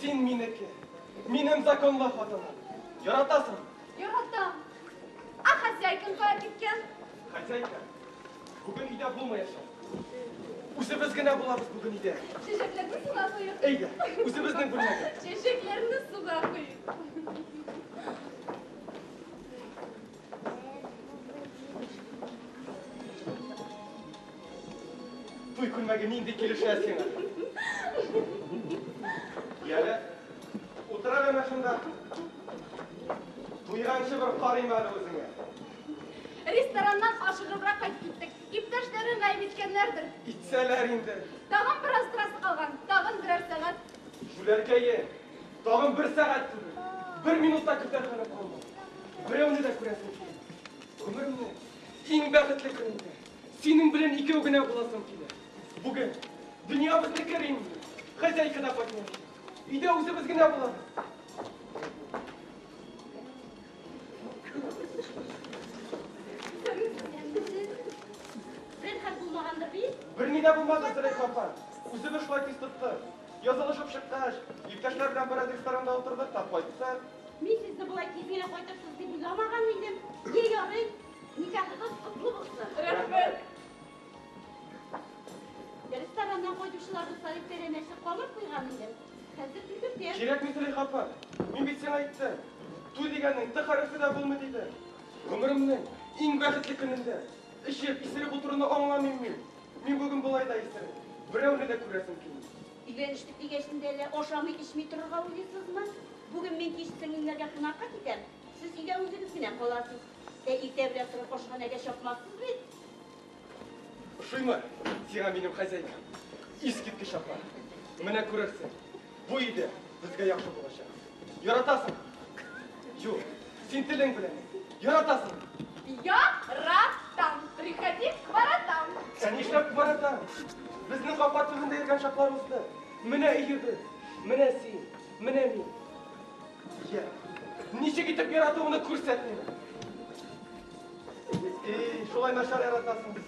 Син минеке, минем законлы хатыным. Яратасың? Яратам. А хозяйкаң кая киткән? Хозяйка, бүген өйдә булмаячак. Үзебез генә булабыз бүген өйдә. Чәчәкләрне суга куеп. Әйдә, үзебезнең бүлмәгә. Чәчәкләрне суга куеп. Туй күлмәге нинди килешә сиңа? Яле, утыра гына шунда. Туйганчы бер карыйм әле үзеңә. Рестораннан ашыгыбрак кайтып киттек. Иптәшләрең гаеп иткәннәрдер. Итсәләр инде. Тагын бераз торасы калган, тагын берәр сәгать. Җүләркәе, Тагын бер сәгать түгел, бер минут та көтәр хәлем калмады. Берәүне дә күрәсем килми. Гомернең иң бәхетле көнендә синең белән икәү генә буласым килә. Бүген дөнья безнеке, Римма. Хозяйка да кайтмаячак. Өйдә үзебез генә булабыз. Бер ни дә булмады, Зөләйха апа. Үзебез шулай тиз тоттык. Язылышып чыккач, иптәшләр белән бераз ресторанда утырдык та кайттык. Мин сезне болай тиз генә кайтырсыз дип уйламаган идем. Е, ярый, никахыгыз котлы булсын. Рәхмәт. Рестораннан кайтучыларны саеп бәрәнәсе калып куйган идем. Хәзер төзетәм. Кирәкми, Зөләйха апа. Мин бит сиңа әйттем. Туй дигәннең т хәрефе дә булмый дидем. Гомеремнең иң бәхетле көнендә эчеп, исереп утыруны аңламыйм мин. Мин бүген болай да исерек, берәүне дә күрәсем килми. Өйләнештек дигәч инде әллә ашамый-эчми торырга уйлыйсызмы? Бүген мин кич сеңлемнәргә кунакка китәм, сез өйдә үзегез генә каласыз. Ә иртә белән торып ашханәгә чапмассыз бит? Ошыймы сиңа минем хозяйкам? Искиткеч апа! Менә күрерсең. Бу иде безгә яхшы булачак. Яратасың? Юк, син телең белән. Яратасың? Яратам. Приходи к воротам. Ә нишләп воротам? Безнең капка төбендә йөргән чаклар узды. Менә өебез, менә син, менә мин. Я, ничек итеп яратуымны күрсәтмим. И, шулай начар яратасың.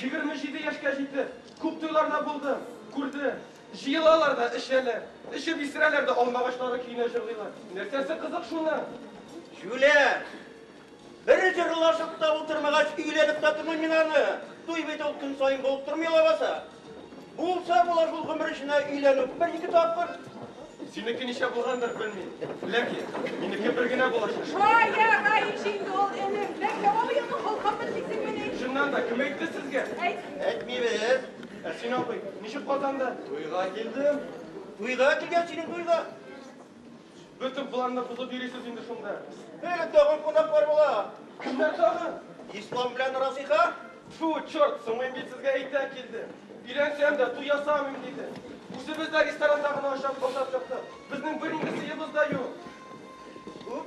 Егерме җиде яшькә җитеп, күп туйларда булдым, күрдем. Җыелалар да, эчәләр. Эчеп исерәләр дә алма агачлары көенә җырлыйлар. Нәрсәсе кызык шуның? Җүләр! Бер җырлашып та утырмагач, өйләнеп тә тормыйм мин аны. Туй бит ул, көн саен булып тормый лабаса. Булса була шул гомер эченә өйләнү бер-ике тапкыр. Синеке ничә булгандыр, белмим. Ләкин минеке бер генә булачак. Шая, Раиш инде ул энем. Ләкин яңа быелны холкымын дисеңмени? Чыннан да, кем әйтте сезгә? Әйт. Әйтмибез. Ә син, абый, ничек Казанда? Туйга килдем. Туйга килгән синең туйга. Бөтен планны бозып йөрисез инде шунда. Э, тагын кунаклар була. Кемнәр тагын? Ислам белән Разыйха. Фу, черт, соңгы бит сезгә әйтә килде. Өйләнсәм дә туй ясамыйм диде. Үзебез дә ресторанда гына ашап бозап чыктык. Безнең бер инде сыебыз да юк. Уп,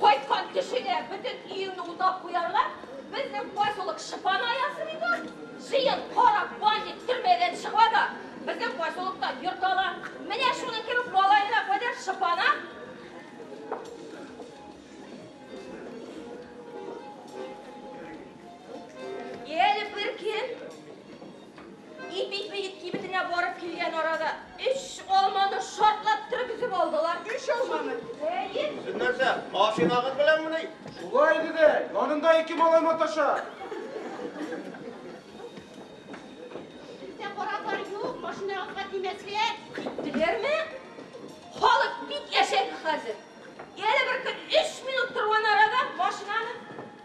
Кайткан кешегә бөтен өеңне утап куярга безнең поселок шыпаны аясын инде. Җыен, кара, бандит төрмәдән чыга да безнең поселокта йорт ала. Менә шуның кебек малаена кадәр шыпана. Әле бер кем Ипи ипи кибетенә барып килгән арада өч алманы шартлап торып өзеп алдылар. Өч алманы? Әйе. Сез нәрсә, машинагыз беләнме ни? Шулай иде дә, янында ике малай маташа. Бездә караклар юк, машинагызга тимәскә. Киттеләрме? Халык бик әшәке хәзер. Әле бер көн өч минут торган арада машинаны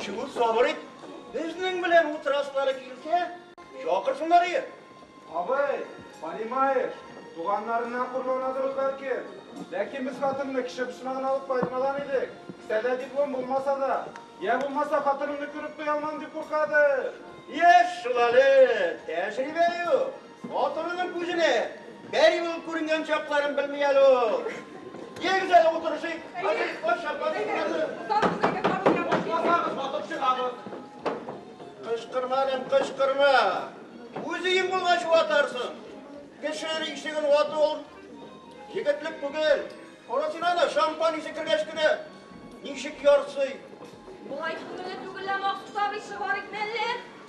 Чүл сабыр ит. Безнең белән утыраслары килсә, чакырсыннар ие. Абый, понимаешь, туганнарына хурлана торыр бәлки. Ләкин без хатынны кеше почмагына алып кайтмаган идек. Кесәдә диплом булмаса да, я булмаса хатынымны күреп туя алмам дип куркадыр. Яшь шул әле, тәҗрибә юк. Батырының күзенә пәри булып күренгән чакларын белми әле ул. Егез әле утырышыйк. Хәзер кайчак Кычкырма, әлем, кычкырма. Үзең булгач ватарсың. Кеше ишеген вату ул егетлек түгел. Карасына да шампан исе кергәч кенә ничек ярсый. Болай күңелле түгел лә махсус абый чыгарыйк мәллә.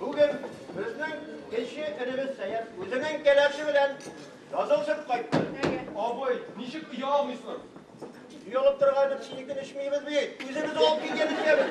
Бүген безнең кече энебез Сәяр үзенең кәләше белән язылышып кайтты. Абый, ничек ия алмыйсың? Йолып торган сине көн эчмейбез бит. Үзебез алып киткән эчәбез.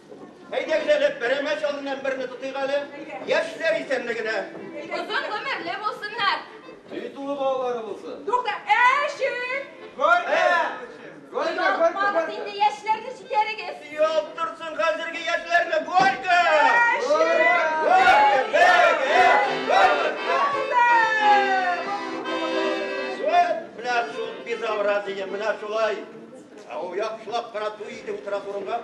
Әйдәгез әле, берәмәч алдыннан берне тотыйк әле. Яшьләр исәнлегенә. Озын гомерле булсыннар. Җөй тулы балалары булсын. Тукта, әшек! Горько! Горько, горько, Ялгыз инде яшьләрне җитәрегез. Ялт торсын хәзерге яшьләрне, горько! Менә шул безобразие, менә шулай. Ә ул яхшылап кына туй иде утырасы урынга.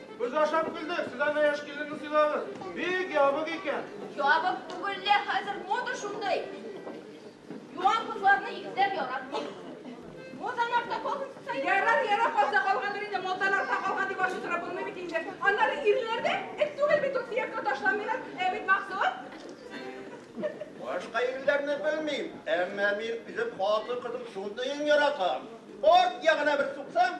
Без ашап көлдек, сез ана яшь киленне сыйлагыз. Бик ябык икән. Ябык түгел лә, хәзер мода шундый. Юан кызларны икеләп яратмый. Мозан артта калган сай. Ярар, ярар, калса калгандыр инде, мозан артта калган дип ачу сорап булмый бит инде. Аннары ирләр дә эт түгел бит, сөякне ташламыйлар. Ә бит Максут? Башка ирләрне белмим, әмма мин үзем хатын-кызым шундыен яратам. Арт ягына бер суксам,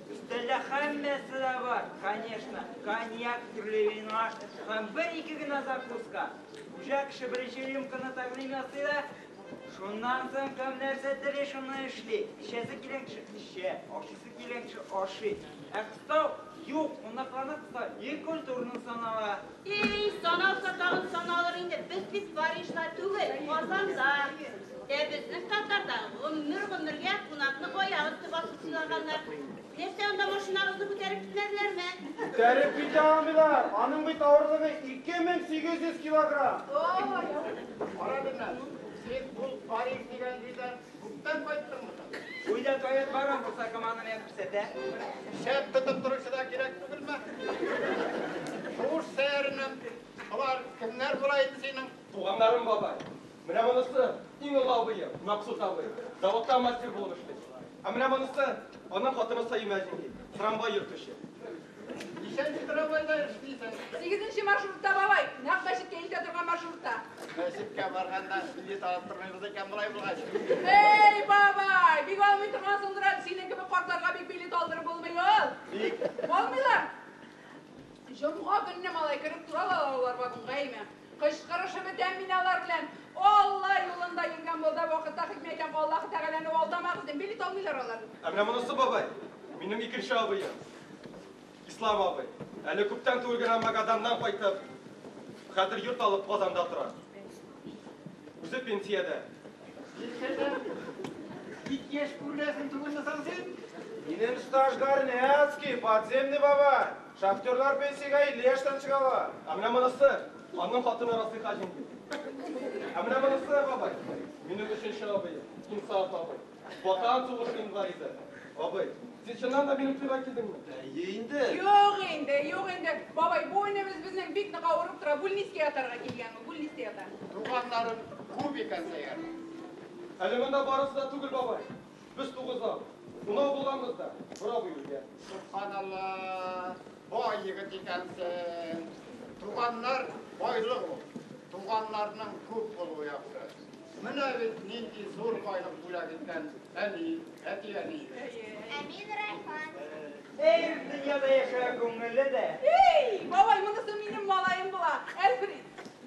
Өстәлдә һәммәсе дә бар, конечно, коньяк, төрле вино һәм бер-ике генә закуска. Хуҗа кеше беренче рюмканы тәкъдим ясый да, шуннан соң кем нәрсә тели, шуны эшли. Эчәсе килгән кеше эчә, ашыйсы килгән кеше ашый. Ә кыстау юк, кунакларны кыстау не культурно санала. Эй, саналса тагын саналыр инде, без бит Парижда түгел, Казанда. Ә безнең татарда гомер-гомергә кунакны аяк өсте басып сыйлаганнар. Нәрсә анда машинагызны күтәреп китмәделәрме? Күтәреп китә алмыйлар, аның бит авырлыгы 2800 килограмм. Ой! Кара, Бирнәс, син ул Париж дигән җирдән Күптән кайттыңмы соң? Өйдә тает бар һәм булса команда миңа күрсәтә. Шәп тотып торучы да кирәк түгелме? Шуш сәеренем. Алар кемнәр була инде синең? Туганнарым, бабай. Менә монысы, иң олы абыем, Максут абый. Заводта мастер булып эшли. Ә менә монысы, аның хатыны Саимә җиңги, трамвай йөртүче. Ничәнче трамвайда эшлисең? Сигезенче маршрутта, бабай. Нәкъ мәчеткә илтә торган маршрутта. Мәчеткә барганда билет алып тормыйбыз икән болай булгач. Эй, бабай, бик алмый торгансыңдыр әле. Синең кебек картларга бик билет алдырып булмый ул. Ник? Алмыйлар. Җомга көнне, малай, кереп торалар алар вагонга, әйме? Кычкырышып бетәм мин алар белән. Алла юлында йөргән балда вакытта хикмә әйтәм, Аллаһ Тәгаләне алдамагыз дим. Билет алмыйлар алар. Ә менә монысы, бабай, минем икенче абыем. Ислам абый. Әле күптән түгел генә Магаданнан кайтып, хәзер йорт алып Казанда тора. Үзе пенсиядә. Бик яшь күренәсең түгелме соң син? Минем стажгар Нәцки, подземный бабай. Шахтерлар пенсиягә 50 яшьтән чыгалар. Ә менә монысы, аның хатыны Расыйха җиңги. Ә менә монысы, бабай, минем өченче абыем, Инсаф абый. Ватан сугышы инвалиды. Абый, син чыннан да минем туйга килдеңме? Әйе инде. Юк инде, юк инде. Бабай, бу энебез безнең бик нык авырып тора, бүлнискә ятарга килгән ул, бүлнистә ята. Туганнарым күп икән, Сәйяр. Әле монда барысы да түгел, бабай. Без тугыздан унау булганбыз да, бора бу илгә. Субханалла, бай егет икәнсең. Туганнар байлык ул. Туганнарның күп булуы яхшы. Менә бит нинди зур байлык бүләк иткән әни, әти-әни. Әмин Райхан. Эй, дөньяда яшәгән күңелле дә. Эй, бабай, монысы минем малаем була, Әлфрид.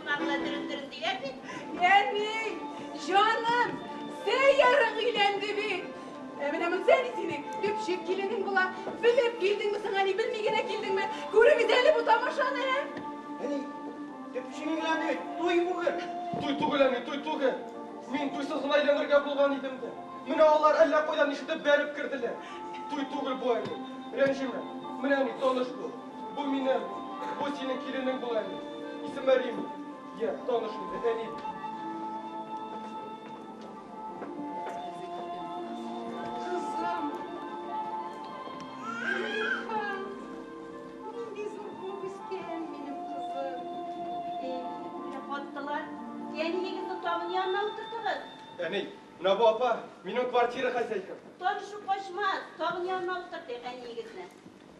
Кунагына төрендерен диләр бит. Әни, җаным, сәйярың өйләнде бит. Ә менә монда ни синең төпчек киленең була. Белеп килдеңме соң, әни, белми генә килдеңме? Күрегез әле бу тамашаны, ә? Әни, төпчегең белән бит туй бүген. Туй түгел, әни, туй түгел. Мин туйсыз гына өйләнергә булган идем дә. Менә алар әллә кайдан ишетеп бәреп керделәр. Туй түгел бу, әни, рәнҗемә. Менә, әни, таныш бул. Бу минем, бу синең киленең була әле. Исеме Рим. Йә, таныш инде, әни. Әни, менә бу апа, минем квартира хозяйкам. Танышып качмас, тагын янына утыртыйк әниегезне.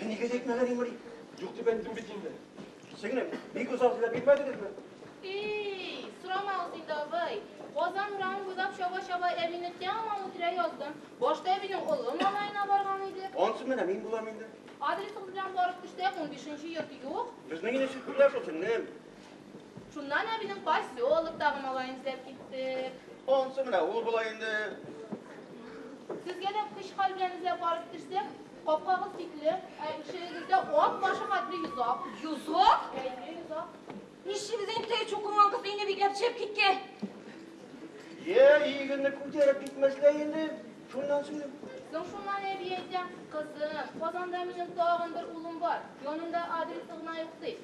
Ә нигә әйтмәгән Имри? Юк дип әйттем бит инде. Сеңлем, бик озак эзләп бирмәдегезме? Эй, сорамагыз инде, абый. Казан урамы буйлап чаба-чаба әбине тәмам үтерә яздым. Башта әбинең олы малаена барган иде. Ансы менә мин булам инде. Адресыгыз белән барып төштә, 15 нче йорт юк. Безнең инде чүкүләр шул, сеңлем. Шуннан әбинең поселоктагы малаен эзләп киттек. Ансы менә ул була инде. Сезгә дә көч-хәл белән эзләп барып төшсәк, капкагыз тикле, ә ишегегездә ат башы хәтле йозак. Йозак? Бәйле йозак. Ничегез инде теге чукынган кыз өйне бикләп төшереп киткән? Йә, иегезне күтәреп китмәсләр инде, шуннан сүзем. Соң шуннан әби әйтә, кызым, Казанда минем тагын бер улым бар, янында адресы гына юк, ди.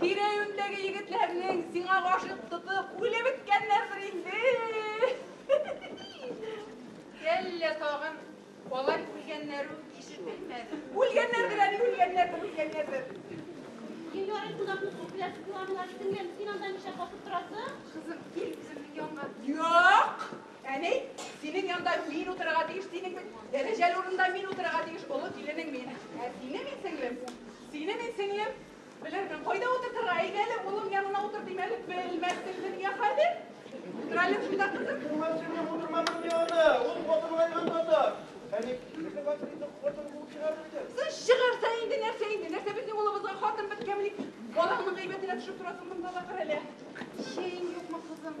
Тирә-юньдәге егетләрнең сиңа гашыйк тотып үлеп беткәннәрдер инде. Әллә тагын алар үлгәннәр үк ишетелмәде. Үлгәннәрдер әле, үлгәннәрдер, үлгәннәрдер. Елларын кунакны күпләп куламлар, сеңлем, син анда ничә басып торасың? Кызым, кил үземнең янга. Юк! Әни, синең янда мин утырырга тиеш, синең бит дәрәҗәле урында мин утырырга тиеш, олы киленең мин. Ә сине мин сеңлем, сине мин сеңлем, Белермен, кайда утыртырга? Әйдә әле, улым янына утыр дим әле, белмәссең дөнья хәлен. Утыр әле шунда, кызым. Күмәсеңне утырмадым яны, ул хатынга янып ята. Әни, кире басыйды, хатын куып чыгарыр иде. Сез чыгарса инде нәрсә инде? Нәрсә безнең улыбызга хатын беткәнмени? Балаңның гайбәтенә төшеп торасың монда да кыр әле. Чәең юкмы, кызым?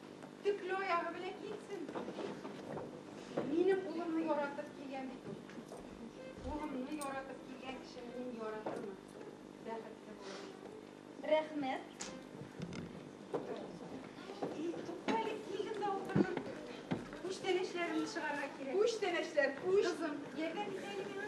Төкле аягы белән китсен. Минем улымны яратып килгән бит ул. Улымны яратып килгән кешене мин яратырмын. Бәхетле булырмын. Рәхмәт. Туктале, килдем дә утырдым. Күчтәнәчләрне чыгарга кирәк. Күчтәнәчләр, күч. Кызым, ярдәм итәле миңа.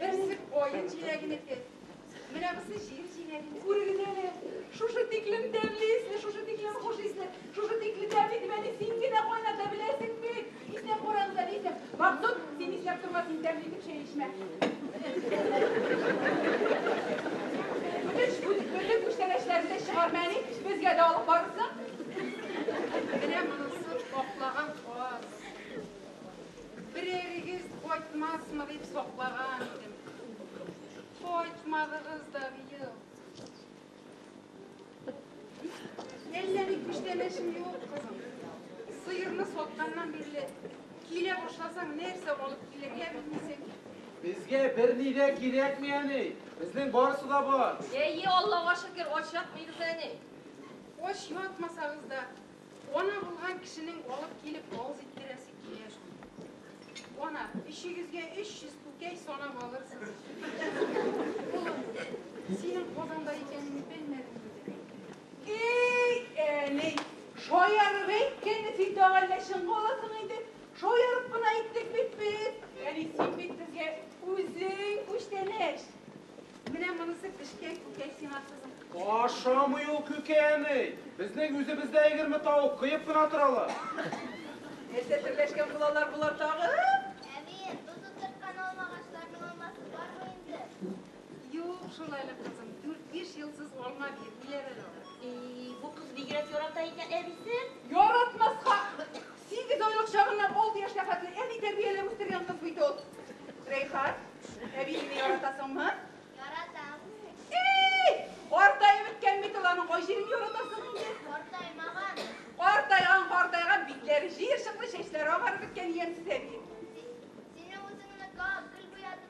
Берсе каен җиләгенеке. Менә бусы җир җиләге. Күрегез әле, шушы тиклем тәмле исле, шушы тиклем хуш исле, шушы тикле тәмле дип әни син генә кайната беләсең бит. Исәп карагыз әле, исәп. Максут, син исәп торма, син тәмле итеп чәй эчмә. Үтеш, үтеш, бөтен күчтәнәчләрне чыгарма әни, безгә дә алып барырсың. Менә монысы аклаган каз. Берәрегез кайтмасмы дип саклаган идем. Кайтмадыгыз да быел. Әллә ник күчтәнәшем юк, кызым. Сыерны сатканнан бирле килә башласаң, нәрсә алып килергә белмисең. Безгә берни дә кирәкми, әни. Безнең барысы да бар. Әйе, Аллага шөкер, ач ятмыйбыз, әни. Ач ятмасагыз да, Ана булган кешенең алып килеп авыз иттерәсе килә шул. Ана, өчегезгә 300 күкәй санап алырсыз. Улым, синең Казанда икәнеңне белмәдем диде. Эй, әни, шаярып әйткәне син тагы әллә чынга аласың инде? Шаярып кына әйттек бит без. Әни, син бит безгә үзең күчтәнәч. Менә монысы пешкән күкәй сиңа кызым. Ашамый ул күкәй әни. Безнең үзебездә егерме тавык кыеп кына торалар. Нәрсә терләшкән булалар болар тагы? Әби, тоз утырткан алма агачларының алмасы бармы инде? Юк, шулайлы кызым, дүрт-биш елсыз алма бирмиләр әле алар. И, бу кыз бигрәк ярата икән әбисен. Яратмаска! Сигез айлык чагыннан алты яшькә хәтле әни тәрбияләп үстергән кыз бит ул. Рәйхат, әбиеңне яратасыңмы? Яратам. Эй! Картаеп беткән бит ул, аның кай җирен яратасың инде? Картаймаган. Картайган, картайган, битләре җыерчыклы, чәчләре агарып беткән ямьсез әби. Сине үзеңнең гел буятып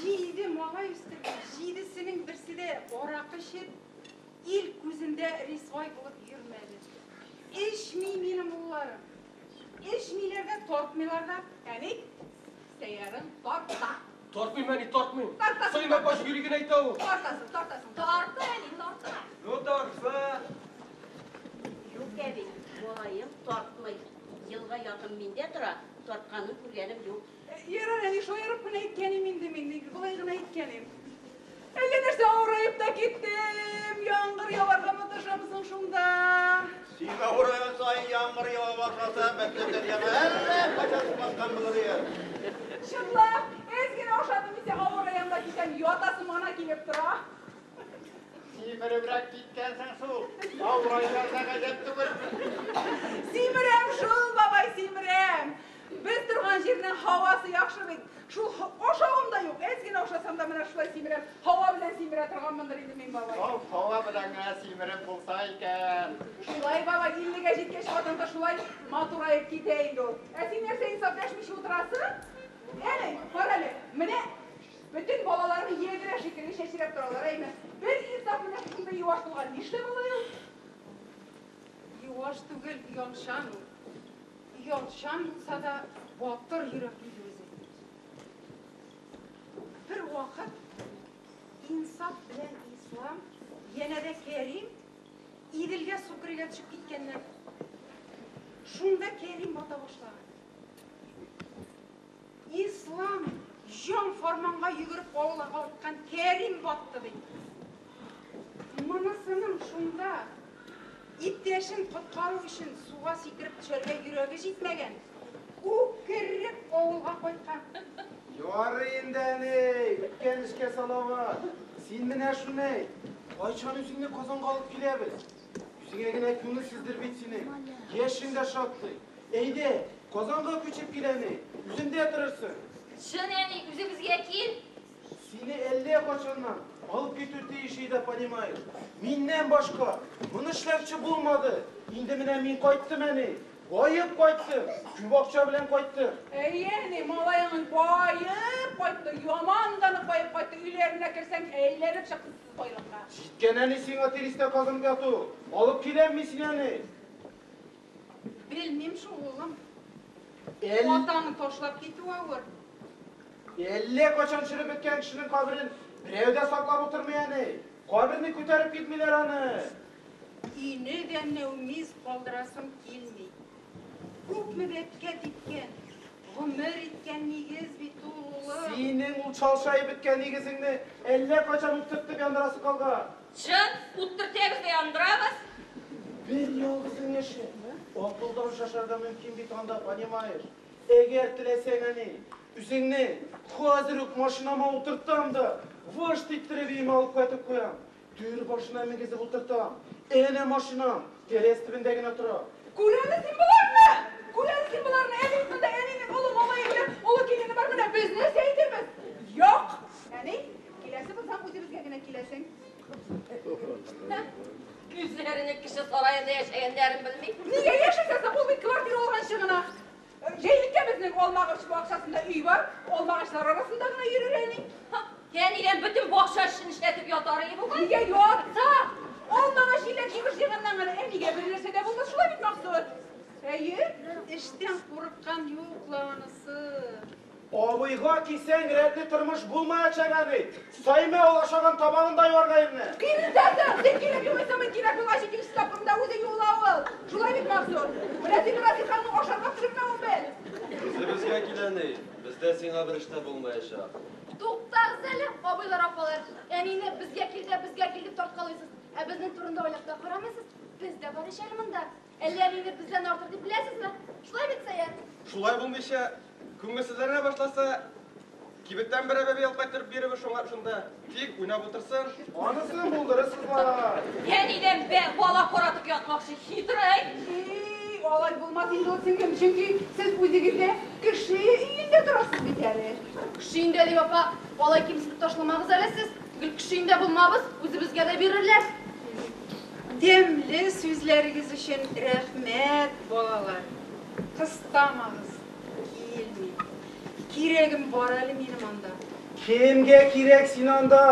Җиде малай үстерде, җидесенең берсе дә аракы эчеп, ил күзендә рисвай булып йөрмәде. Эчми минем улларым. Эчмиләр дә, тартмыйлар да. Ә ник? Сәйярың тарта. Тартмыйм, әни, тартмыйм. Тартасың. Сыймай качып йөри генә әйтә ул. Тартасың, тартасың. Тарта, әни, тарта. Ну, тарса. Юк, әби, малаем тартмый. Елга якын миндә тора, тартканын күргәнем юк. Ярар, әни, шаярып кына әйткәнем инде мин, ник болай гына әйткәнем. Әллә нәрсә авыраеп та киттем, яңгыр яварга маташам соң шунда. Син авырыган саен яңгыр ява башласа, мәктәп дәрьяга әллә кайчан сумаскан булыр ир. Чынлап, әз генә ашадым дисә, авыраям да китәм, ятасым гына килеп тора. Симеребрәк киткәнсең шул, авырайлар да гаҗәп түгел. Симерәм шул, бабай, симерәм. Без торган җирнең һавасы яхшы бит. Шул ашавым да юк. Әз генә ашасам да менә шулай симерәм. Һава белән симерә торганмындыр инде мин, бабай. Ул һава белән генә симереп булса икән. Шулай, бабай, иллегә җиткәч хатын-кыз шулай матураеп китә инде ул. Ә син нәрсә хисап дәшмичә утырасың? Әни, кара әле, менә бөтен балаларны ядрә шикелле чәчрәп торалар, әйме? Бер хисап менә шушындый юаш булган, нишләп алай ул? Юаш түгел, оялчан ул. Ялчан булса да батыр йөрәкле үзе. Бер вакыт инсаф белән ислам, янә дә Кәрим Иделгә су керергә төшеп киткәннәр. Шунда Кәрим бата башлаган. Ислам җан фарманга йөгереп авылга кайткан Кәрим батты ди. Монысының шунда иптәшен коткару өчен суга сикереп төшәргә йөрәге җитмәгән. Үкереп авылга кайткан. Ярый инде, әни, үткән эшкә салават. Син менә шуны әйт, кайчан үзеңне Казанга алып киләбез? Үзеңә генә күңелсездер бит синең. Яшең дә шактый. Әйдә, Казанга күчеп кил әни. Үземдә торырсың. Чын, әни, үзебезгә кил. Сине әллә кайчаннан алып китү тиеш иде, понимаешь. Миннән башка моны эшләүче булмады. Инде менә мин кайттым, әни. Баеп кайттым, күп акча белән кайттым. Әйе, әни, малаеңыз баеп кайтты, яман да нык баеп кайтты. Өйләренә керсәң, әйләнеп чыксын. Байлыкка. Җиткән әни сиңа тиристә казым яту. Алып киләм мин сине, әни. Белмим шул, улым. Әл... Атаны ташлап китү авыр. Әллә качан череп беткән кешенең каберен берәү дә саклап утырмый, әни. Каберне күтәреп китмиләр аны. Өйне дә нәүмиз калдырасым килми. Күпме бәбкә типкән, гомер иткән нигез бит ул, улым. Синең ул чалшаеп беткән нигезеңне әллә кайчан үттертеп яндырасы калган. Чын, үттертәбез дә яндырабыз. Бер ялгызың яши. Акылдан шашарга мөмкин бит анда, понимаешь? Әгәр теләсәң, әни, үзеңне хәзер үк машинама утыртам да, вышт иттереп өемә алып кайтып куям. Түр башына мигезеп утыртам. Әнә машина тәрәз төбендә генә тора. Күрәме син боларны? Күрәме син боларны? Әни, монда әнинең олы малае белән олы килене бар, менә без нәрсә әйтәбез? Як! Әни, киләсе булсаң, үзебезгә генә киләсең. Үзләренең кеше сараенда яшәгәннәрен белми. Нигә яшәсә соң, ул бит квартира алганчы гына. Җәйлеккәбезнең алмагач бакчасында өй бар, алмагачлар арасында гына йөрер әни. Ха, әнидән бөтен бакча эшен эшләтеп ятар и бугай. Нигә ятса? Алмагач җиләк җимеш җыйганнан гына әнигә бер нәрсә дә булмас, шулай бит, Максур? Әйе, эштән курыккан юк ла анысы. Абыйга кисәң, рәтле тормыш булмаячак әби. Саймә ул ашаган табагын да юарга ирне. Биредә дә бик кирәк югыйсә мин кирәк булгач икенче тапкырында үзе юыла ул. Шулай бит, Мансур? Менә син Рафик ханның ашарга пешермәвен бел. Үзебезгә кил, әни. Бездә сиңа бер эш тә булмаячак. Туктагыз әле, абыйлар, апалар. Әнине безгә кил дә, безгә кил дип тарткалыйсыз. Ә безнең турында уйлап та карамыйсыз. Без дә бар ич әле монда. Әллә мине бездән артык дип беләсезме? Шулай бит, Сәяр? Шулай булмыйча, күңелсезләнә башласа, кибеттән берәр бәби алып кайтырып бирегез шуңа шунда. Тик уйнап утырсын. Анысын булдырырсыз бала. Я нидән бә бала каратып ятмакчы, хитрый. И, алай булмас инде ул, сеңлем, чөнки сез үзегез дә кеше өендә торасыз бит әле. Кеше өендә дип, апа, алай кимсетеп ташламагыз әле сез. Гел кеше өендә булмабыз, үзебезгә дә бирерләр. Дәмле сүзләрегез өчен рәхмәт, балалар! Кыстамагыз, килми. Кирәгем бар әле минем анда. Кемгә кирәк син анда?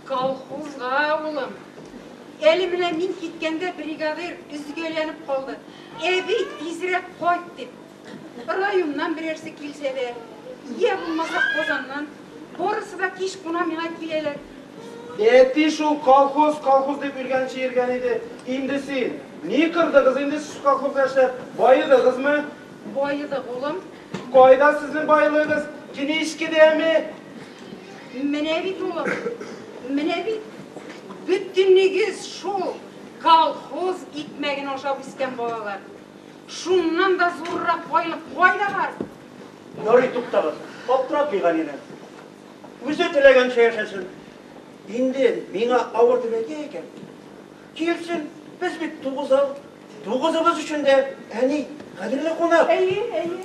Колхозга, улым. Әле менә мин киткәндә бригадир өзгәләнеп калды. Әби, тизрәк кайт, дип. Районнан берәрсе килсә дә, йә булмаса Казаннан, барысы да кич куна миңа киләләр. Әти шул колхоз, колхоз дип йөргәнче йөргән иде инде син. Ни кырдыгыз инде сез колхозда эшләп, баедыгызмы? Баедык, улым. Кайда сезнең байлыгыз? Кенечкедәме? Менә бит, улым, менә бит, бөтенегез шул колхоз икмәген ашап үскән балалар. Шуннан да зуррак байлык кайда бар? Ярый, туктагыз, аптыратмый Галинә. Үзе теләгәнчә яшәсен. Инде миңа авыр дип әйтә икән, килсен, без бит тугызау, тугызыбыз өчен дә әни кадерле кунак. Әйе, әйе.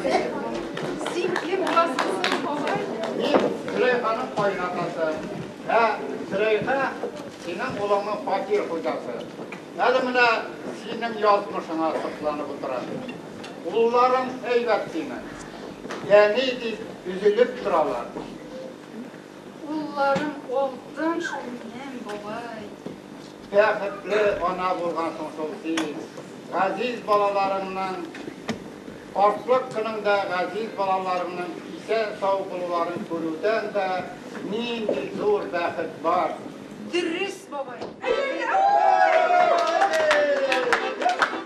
Син кем буласың соң, бабай? Мин Сөләйханың кайнатасы. Ә Сөләйха синең улыңның фатир хуҗасы. Әле менә синең язмышыңа сокланып утыра. Улларың әйбәт синең. Әни дип өзелеп торалар. Улларым алтын шул минем, бабай. Бәхетле ана булгансың шул син. Газиз балаларыңның, картлык көнеңдә газиз балаларыңның исән-сау булуларын күрүдән дә нинди зур бәхет бар! Дөрес, бабай!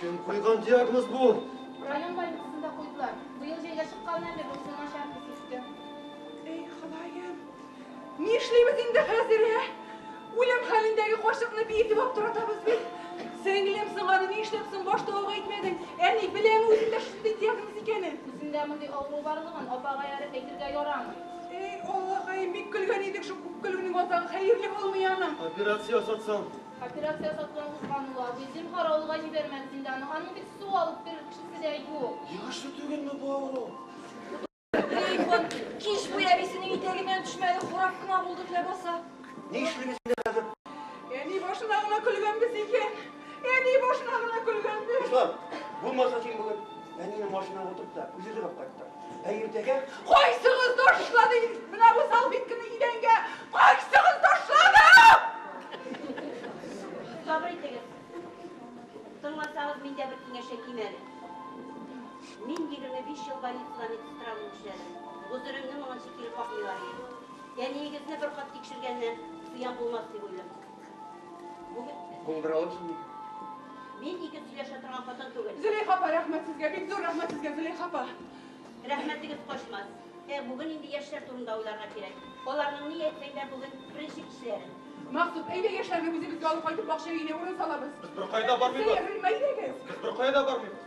Кем куйган диагноз бу? Район больницасында куйдылар. Быел җәйгә чыкканнан бирле үзе начар хис итте. Эй, Ходаем, ни эшлибез инде хәзер, ә? Үлем хәлендәге карчыкны бии дип аптыратабыз бит. Сеңлем, соң аны ни эшләп соң башта алга әйтмәдең? Әни, беләме үзендә шундый диагноз икәнен? Үзендә мондый авыру барлыгын апага ярып әйтергә ярамый. Эй, Аллакаем, бик көлгән идек, шул күп көлүнең азагы хәерле булмый аның. Операция ясатсаң, Операция ясатудан узган ул абый. Зинһар, авылга җибәрмәс инде аны. Аның бит су алып бирер кешесе дә юк. Яхшы түгелме бу авыру? Телефон кич буе әбисенең итәгеннән төшмәде, курап кына булдык ләбаса. Ни эшлибез инде хәзер? Әни башына гына көлгәнбез икән. Әни башына гына көлгәнбез. Руслан, булмаса син бүген әнине машинага утырт та, үзе җырлап кайттыр. Ә иртәгә кайсыгыз ташлады менә бу салфетканы идәнгә? Кайсыгыз ташлады? Сабыр итегез. Тыңласагыз, мин дә бер киңәш әйтим әле. Мин 25 ел больницада медсестра булып эшләдем. Гозеремне моңынчы кире какмыйлар иде. Әниегезне бер кат тикшергәннән зыян булмас дип уйлыйм. Бу беравык шул. Мин ике сөйләшә торган хатын түгел. Зөләйха апа, рәхмәт сезгә. Бик зур рәхмәт сезгә, Зөләйха апа. Рәхмәтегез качмас. Ә бүген инде яшьләр турында уйларга кирәк. Аларның ни әйтсәң бүген беренче кешеләре. Максут, әйдә яшьләрне үзебезгә алып кайтып бакча өенә урын салабыз. Без беркая да бармыйбыз. Сәер, Рөлмә, әйдәгез. Без беркая да бармыйбыз.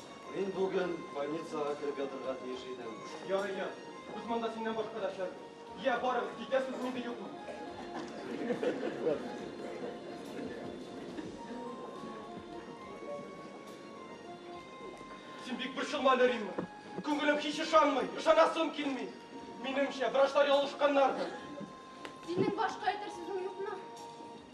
Мин бүген больницага кереп ятырга тиеш идем. Ярый, ят. Без монда синнән башка да шәп. Йә, барыгыз, китәсез мени юкмы? Син бик борчылма әле, Римма. Күңелем һич ышанмый, ышанасым килми. Минемчә, врачлар ялгышканнардыр. Синең башка әйтер сүзең юкмы?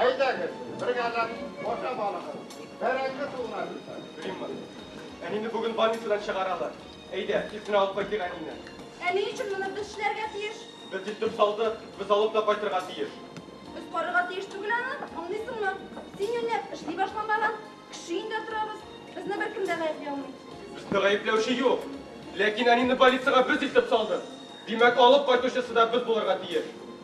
Әйдәгез, бергәләп ашап алыгыз. Бәрәңге суына китсәк. Римма, әнине бүген больницадан чыгаралар. Әйдә, тиз генә алып кайтыйк әнине. Ә ни өчен моны без эшләргә тиеш? Без илтеп салдык, без алып та кайтырга тиеш. Без карарга тиеш түгел аны, аңлыйсыңмы? Син юньләп эшли башламаган, кеше өендә торабыз. Безне беркем дә гаепли алмый. Безне гаепләүче юк. Ләкин әнине больницага без илтеп салдык. Димәк, алып кайтучысы да без булырга тиеш.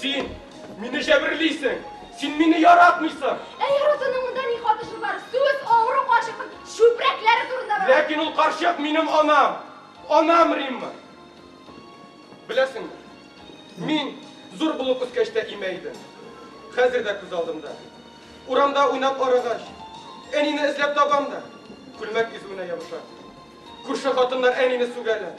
Син мине җәберлисең! Син мине яратмыйсың! Ә яратуның монда ни катышы бар? Сүз авыру карчыкның чүпрәкләре турында бара. Ләкин ул карчык минем анам. Анам, Римма. Беләсеңме, мин зур булып үскәч тә имә идем. Хәзер дә күз алдымда. Урамда уйнап арыгач, әнине эзләп табам да, күлмәк изүенә ябышам. Күрше хатыннар әнине сүгәләр.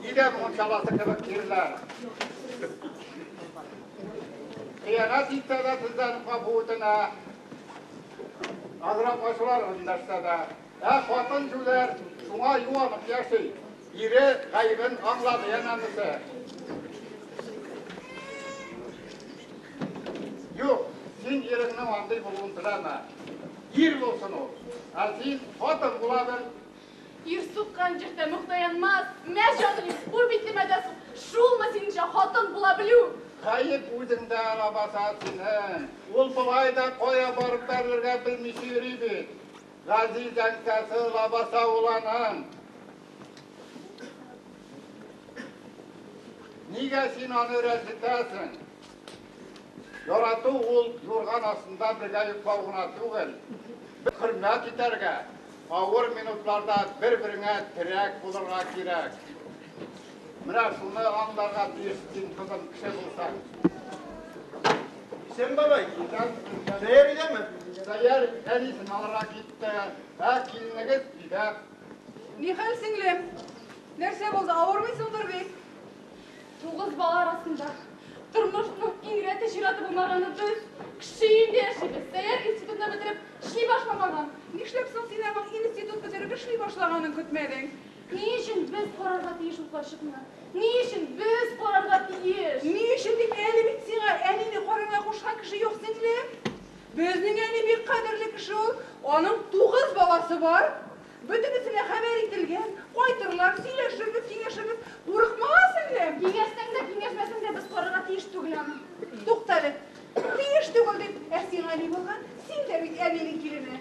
Нигә мунчаласы кебек тирләр? Хыянәт итсә дә сездән капу үтенә. Азрак ачулар өндәшсә дә. Ә хатын җүләр шуңа юанып яши. Ире гаебен аңлады янәмесе. Юк, син иреңнең андый булуын теләмә. Ир булсын ул. Ә син хатын була бел. Ир суккан җир тәмуг таянмас. Мә, җаный, хур битлемә дә сук. Шулмы синеңчә хатын була белү? Гаеп үзеңдә, лабаса, синең. Ул болай да кая барып бәрелергә белмичә йөри бит. Газиз әнкәсе, лабаса ул аның. Нигә син аны рәнҗетәсең? Ярату ул юрган астында бергә йоклау гына түгел. Хөрмәт итәргә, Авыр минутларда бер-береңә терәк булырга кирәк. Менә шуны аңларга тиеш син, кызым, кеше булсаң. Исән бабай, тәяр идеме? Тәяр, әнисен алырга китте. Ә киленегез өйдә. Нихәл, сеңлем? Нәрсә булды, авырмыйсыңдыр бит? Тугыз бала арасында тормышның иң рәте чираты булмаганы дөрес. Кеше өендә яшибез. Сәяр институтны бетереп, эшли башламаган. Нишләп соң син аның институт бетереп эшли башлаганын көтмәдең? Ни өчен без карарга тиеш ул карчыкны? Ни өчен без карарга тиеш? Ни өчен дип, әле бит сиңа әнине карарга кушкан кеше юк, сеңлем. Безнең әни бик кадерле кеше ул. Аның тугыз баласы бар. Бөтенесенә хәбәр ителгән, кайтырлар, сөйләшербез, киңәшербез. Курыкмала, сеңлем! Киңәшсәң дә, киңәшмәсәң дә, без карарга тиеш түгел аны. Туктале. Тиеш түгел дип, ә сиңа ни булган? Син дә бит әнинең килене.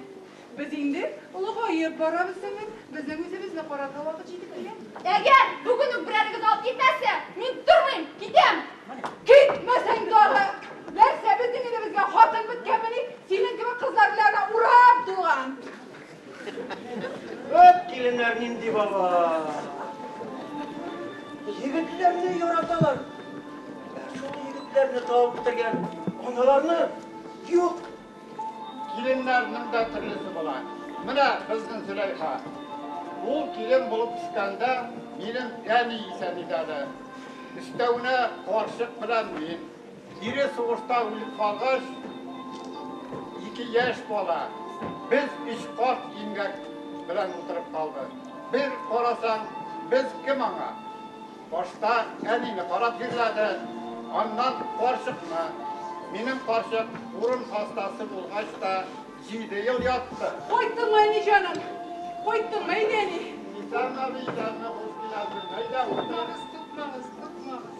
Без инде олыгаеп барабыз, сеңлем, безнең үзебезне карарга вакыт җитеп килгән. Әгәр бүген үк берәрегез алып китмәсә, мин тормыйм, китәм! Китмәсәң тагы! Нәрсә, безнең өебезгә хатын беткәнмени? Синең кебек кызлар белән ана урап тулган. Вәт, киленнәр нинди бала! Егетләрне яраталар. Шул егетләрне табып бетергән аналарны юк. Киленнәрнең дә төрлесе була. Менә безнең Зөләйха. Ул килен булып төшкәндә минем әни исән иде әле. Өстәвенә карчык белән мин. Ире сугышта үлеп калгач, ике яшь бала, без өч карт имгәк белән утырып калдык. Бер карасаң, без кем аңа? Башта әнине карап җирләде, аннан карчыкны. Минем карчык урын хастасы булгач та җиде ел ятты. Кайттыңмы, әни җаным? Кайттыңмы, әйдә, әни? Исәнме, исәнме, хуш киләсез, әйдә, утыр. Тукмагыз, тукмагыз, тукмагыз.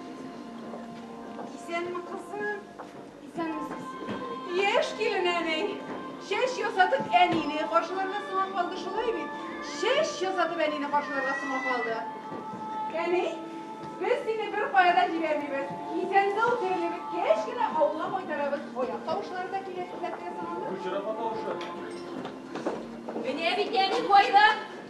Исәнме, кызым? Исәнмесез. Яшь килен әни. Чәч ясатып әнине каршыларга соңа калды шулай бит? Чәч ясатып әнине каршыларга соңа калды. Әни, без сине бер кая да җибәрмибез. Исән-сау терелеп беткәч кенә авылга кайтарабыз. Аяк тавышлары да килә хезмәткә соңа. Бу чырапа тавышы. Менә бит әни кайда?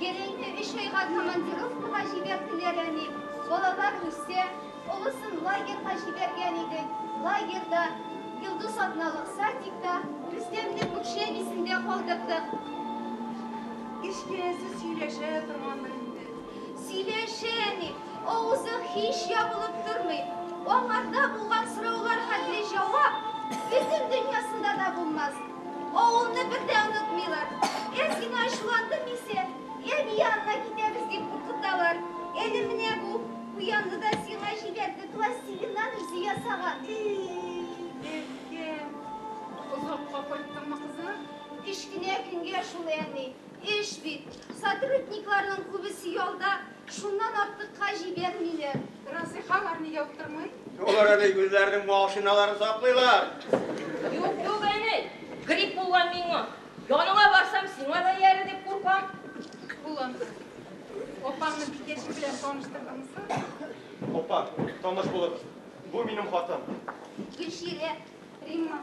Гәрәйне өч айга командировкага җибәрделәр, әни. Балалар үсә. Олысын лагерьга җибәргән идек. Лагерьда, Йолдыз атналык садикта, Рөстәмне күк җәбисендә калдырдык. Кечкенәсе сөйләшә торгандыр инде. Сөйләшә, әни. Авызы һич ябылып тормый. Аңарда булган сораулар хәтле җавап бөтен дөньясында да булмас. Авылны бер дә онытмыйлар. Әз генә ачуландым исә, әби янына китәбез дип куркыталар. Әле менә бу куянны да сиңа җибәрде, пластилиннан үзе ясаган. Безгә. Озакка кайттыңмы, кызым? Кечкенә көнгә шул, әни. Эш бит. Сотрудникларның күбесе ялда. Шуннан артыкка җибәрмиләр. Расыйха алар нигә уттырмый? Алар әле үзләренең машиналарын саклыйлар. Юк, юк, әни, грипп булган миңа. Яныңа барсам, сиңа да иярер дип куркам. Улым, апаңны бикәче белән таныштырдыңмы соң? Апа, таныш булыгыз. Бу минем хатыным. Гөлчирә, Римма.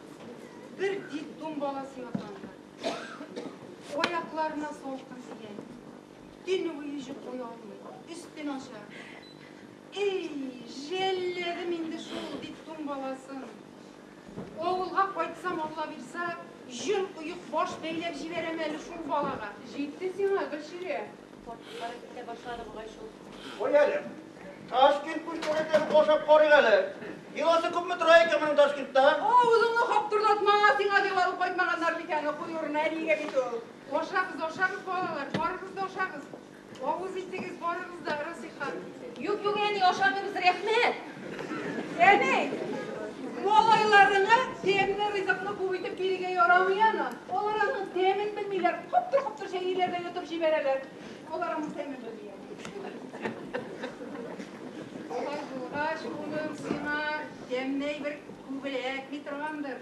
Бер детдом баласы ятанда. Аякларына салкын тигән. Төн буе йоклый алмый. Өстен ача. Эй, жәлләдем инде шул детдом баласын. Авылга кайтсам, Алла бирса, җон оек баш бәйләп җибәрәм әле шул балага. Җитте сиңа, Гөлчирә. Картыклары китә башлады бугай шул. Кой әле. Ташкент күркәләтән ашап карыйк әле. Йоласы күпме тора икән моның Ташкентта? Авызыңны каптырдатма, сиңа бик алып кайтмаганнар бит аны, кой урын әнигә бит ул. Ашагыз, ашагыз, балалар, барыгыз да ашагыз. Авыз итегез, барыгыз да, Расыйхан. Юк, юк, әни, ашамыйбыз, рәхмәт. Әни, малайларыңа тәмле ризыкны күп итеп бирергә ярамый аны. Алар аның тәмен белмиләр, коптыр-коптыр чәйлиләр дә йотып җибәрәләр. Алар аның тәмен белми. Алай булгач, улым, сиңа тәмле бер күбрәк бит торгандыр.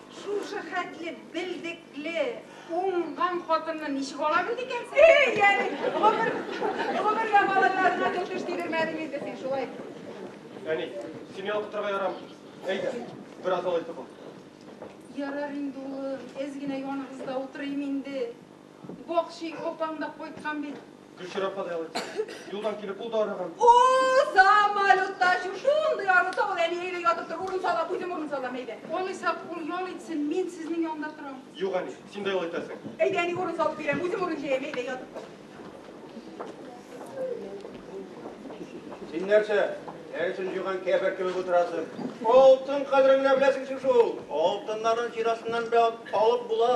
Шушы хәтле белдекле, уңган хатынны ничек ала белде икәнсең? Эй, яли, гомер, гомергә малайларына төтеш тидермәдең инде син, шулай. Әни, семья укытырга ярамый. Әйдә, бераз алай тотыл. Ярар инде, улым, әз генә яныбызда утырыйм инде. Бакчи, апаң да кайткан бит. Гөлчирә апа да ял итсен. Юлдан килеп ул да арыган. О, самолетта чу, шундый арыса ул, әни әйдә ятып тор, урын салам, үзем урын салам, әйдә. Алайса, ул ял итсен, мин сезнең янда торам. Юк, әни, син дә ял итәсең. Әйдә, әни, урын салып бирәм, үзем урын җәям, әйдә, ятып тор. Син нәрсә, дәресен җуйган кәфер кебек утырасың? Алтын кадерен генә беләсең шул. Алтыннарның чирасыннан бәлт алып була.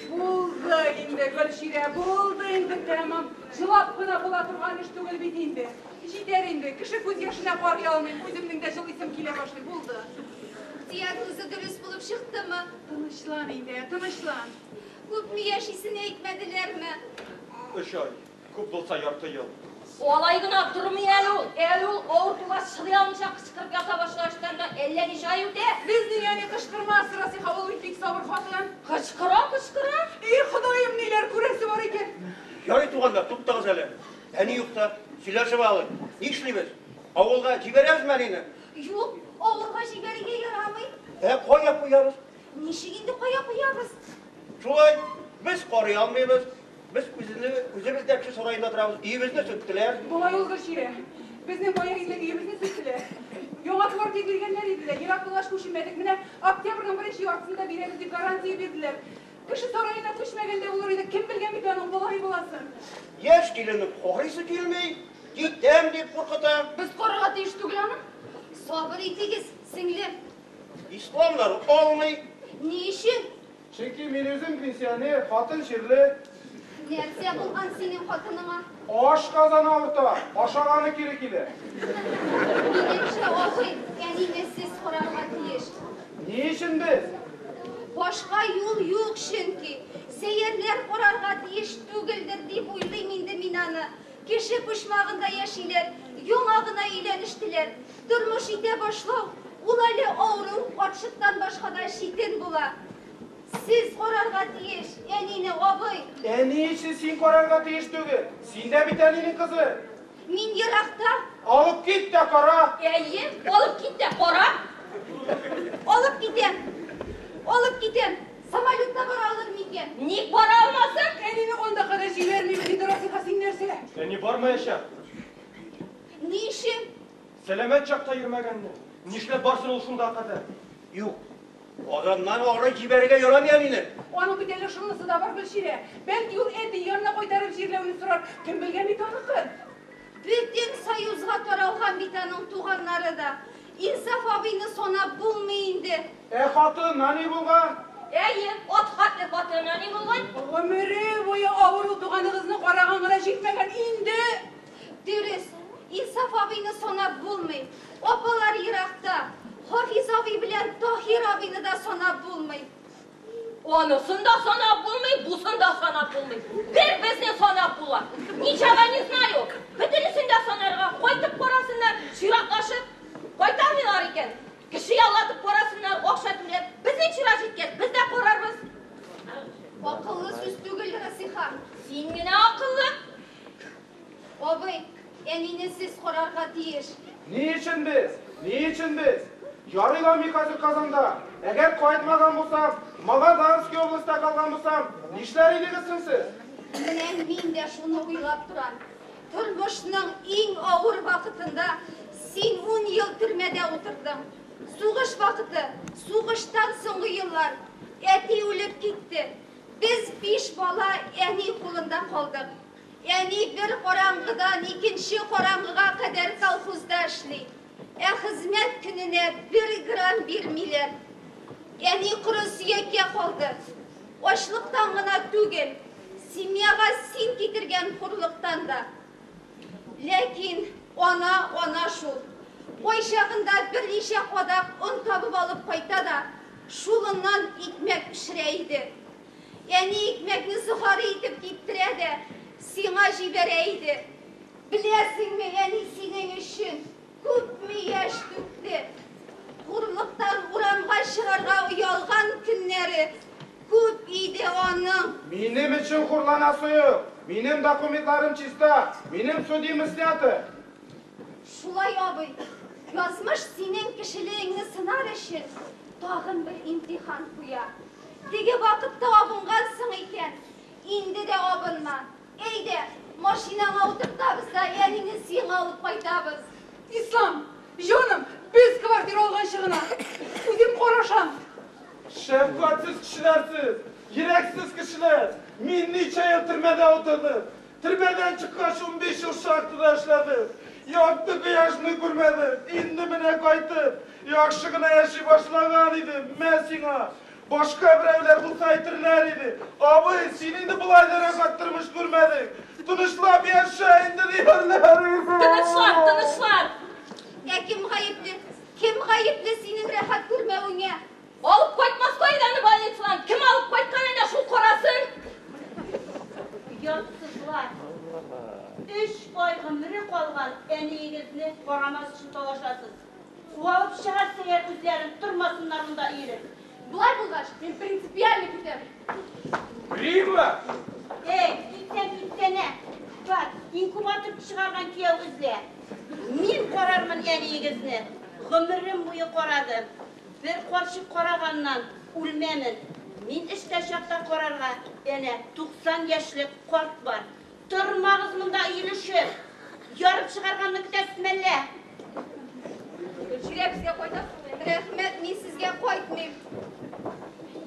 Булды инде, Гөлчирә, булды инде тәмам. Җылап кына була торган эш түгел бит инде. Җитәр инде, кеше күз яшенә карый алмыйм, үземнең дә җылыйсым килә башлый, булды. Ихтияр үзе дөрес булып чыктымы? Тынычлан инде, тынычлан. Күпме яшисен әйтмәделәрме? Өч ай. Күп булса ярты ел. Алай гына тормый әле ул. Әле ул авыртуга чыдый алмыйча кычкырып ята башлар өстән дә әллә ничә ай үтә. Без ник әни кычкырмас, Расыйха ул бит бик сабыр хатын. Кычкыра, кычкыра. И, Ходаем, ниләр күрәсе бар икән. Ярый, туганнар, туктагыз әле. Әни юкта, сөйләшеп алыйк. Нишлибез? Авылга җибәрәбезме әнине? Юк, авылга җибәрергә ярамый. Ә кая куябыз? Ничек инде кая куябыз? Шулай, без карый алмыйбыз. Без үзебез дә кеше сараенда торабыз. Өебезне сүттеләр. Болай ул дөрес ире. Безнең бая илдә өебезне сүттеләр. Яңа квартира биргәннәр иде дә, ерак булгач күченмәдек. Менә октябрьнең беренче яртысында бирәбез дип гарантия бирделәр. Кеше сараена күчмәгәндә булыр иде. Кем белгән бит аның болай буласын. Яшь киленнең карыйсы килми, китәм дип куркыта. Без карарга тиеш түгел аны. Сабыр итегез, сеңлем. Исламнар алмый. Ни өчен? Чөнки мин үзем пенсионер, хатын чирле. Нәрсә булган синең хатыныңа? Аш казаны авырта, ашаганы кире килә. Минемчә, абый, әнине сез карарга тиеш. Ни өчен без? Башка юл юк, чөнки. Сәерләр карарга тиеш түгелдер, дип уйлыйм инде мин аны. Кеше почмагында яшиләр, яңа гына өйләнештеләр. Тормыш итә башлау, ул әле авыру, карчыктан башка да читен була. Сез карарга тиеш, әнине, абый. Әни эше син карарга тиеш түгел. Син дә бит әнинең кызы. Мин еракта. Алып кит тә кара. Әйе, алып кит тә кара. Алып китәм. Алып китәм. Самолетта бара алыр микән? Ник бара алмасын? Әнине анда кадәр җибәрмим, диде Расиха, син нәрсә? Әни бармаячак. Ни өчен? Сәламәт чакта йөрмәгәнне. Нишләп барсын ул шунда кадәр? Юк. Аганнан ары җибәрергә ярамый әнине. Аның бит әле шунысы да бар, Гөлчирә. Бәлки ул әти янына кайтарып җирләвен сорар. Кем белгән бит аныкын? Бөтен союзга таралган бит аның туганнары да. Инсаф абыйны санап булмый инде. Ә хаты нани булган? Әйе, ат хаты, хаты нани булган? Гомере буе авыру туганыгызны караган гына җитмәгән инде! Дөрес, Инсаф абыйны санап булмый. Апалар еракта. Хафиз абый белән Таһир абыйны да санап булмый. Анысын да санап булмый, бусын да санап булмый. Бер безне санап була. Ничага не знаю. Бөтенесен дә санарга кайтып карасыннар, чиратлашып кайтамыйлар икән. Кеше яллатып карасыннар, акча түләп. Безнең чира җиткәч, без дә карарбыз. Акыллы сүз түгел, Расиха. Син генә акыллы. Абый, әнине сез карарга тиеш. Ни өчен без? Ни өчен без? Ярый ла мин хәзер Казанда. Әгәр кайтмаган булсам, Магаданский областьта калган булсам, нишләр идегез соң сез? Менә мин дә шуны уйлап торам. Тормышның иң авыр вакытында син ун ел төрмәдә утырдың. Сугыш вакыты, сугыштан соңгы еллар. Әти үлеп китте. Без биш бала әни кулында калдык. Әни бер караңгыдан икенче караңгыга кадәр колхозда эшли. Ә хезмәт көненә бер грамм бирмиләр. Әни коры сөяккә калды. Ачлыктан гына түгел, семьяга син китергән хурлыктан да. Ләкин ана ана шул. Кайчагында берничә кадак он табып алып кайта да, шулыннан икмәк пешерә иде. Әни икмәкне сухари итеп киптерә дә сиңа җибәрә иде. Беләсеңме, әни синең өчен күпме яшь түкте. Хурлыктан урамга чыгарга оялган көннәре күп иде аның. Минем өчен хурланасы юк. Минем документларым чиста. Минем судимость снято. Шулай, абый. Язмыш синең кешелегеңне сынар өчен тагын бер имтихан куя. Теге вакытта абынгансың икән, инде дә абынма. Әйдә, машинаңа утыртабыз да әнине сиңа алып кайтабыз. Ислам, җаным, без квартира алганчы гына. Үзем карашам. Шәфкатьсез кешеләр сез, йөрәксез кешеләр! Мин ничә ел төрмәдә утырдым. Төрмәдән чыккач унбиш ел шахтада эшләде. Якты кояшны күрмәде. Инде менә кайтып, яхшы гына яши башлаган иде. Мә сиңа! Башка берәүләр булса әйтерләр иде, Абый, син инде болай да рәхәт тормыш күрмәдең. Тынычлап яшә инде, диярләр иде. Тынычлар, тынычлар! Ә кем гаепле? Кем гаепле синең рәхәт күрмәвеңә? Алып кайтмаска иде аны больницадан. Кем алып кайткан әнә шул карасын? Оятсызлар. Өч ай гомере калган әниегезне карамас өчен талашасыз. Куалып чыгарсы әгәр үзләрен тормасыннар монда иелеп. Болай булгач, мин принципиально китәм. Римма! Эй, китсәң китсәнә. Бар, инкубатор чыгарган кияү эзлә. Мин карармын әниегезне. Гомерем буе карадым. Бер карчык караганнан үлмәмен. Мин эштә чакта карарга әнә 90 яшьлек карт бар. Тормагыз монда өелешеп! Ярып чыгарганны көтәсез мәллә? Гөлчирә, безгә кайтасыңмы? Рәхмәт, мин сезгә кайтмыйм.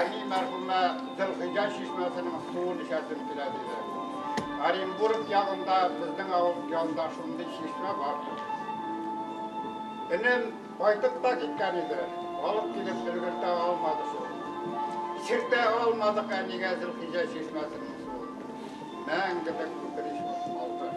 Әни мәрхүмә Зөлхиҗә чишмәсенең суын эчәсем килә диде. Оренбург ягында безнең авыл янында шундый чишмә бар. Энем кайтып та киткән иде, алып килеп өлгертә алмады шул. Сиртә алмадык әнигә Зөлхиҗә чишмәсенең суын. Мәңгелек үкенеч булып калды.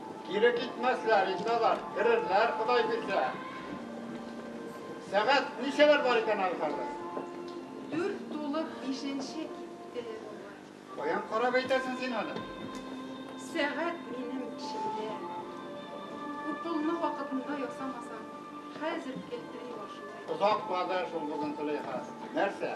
Кире китмәсләр инде алар, керерләр, Ходай бирсә. Сәгать ничәләр бар икән әле хәзер? Дүрт тулып бишенче китте, бабай. Каян карап әйтәсең син аны? Сәгать минем эчемдә. Уколны вакытында ясамасаң, хәзер келтери башлый. Озак барды шул бүген Зөләйха. Нәрсә?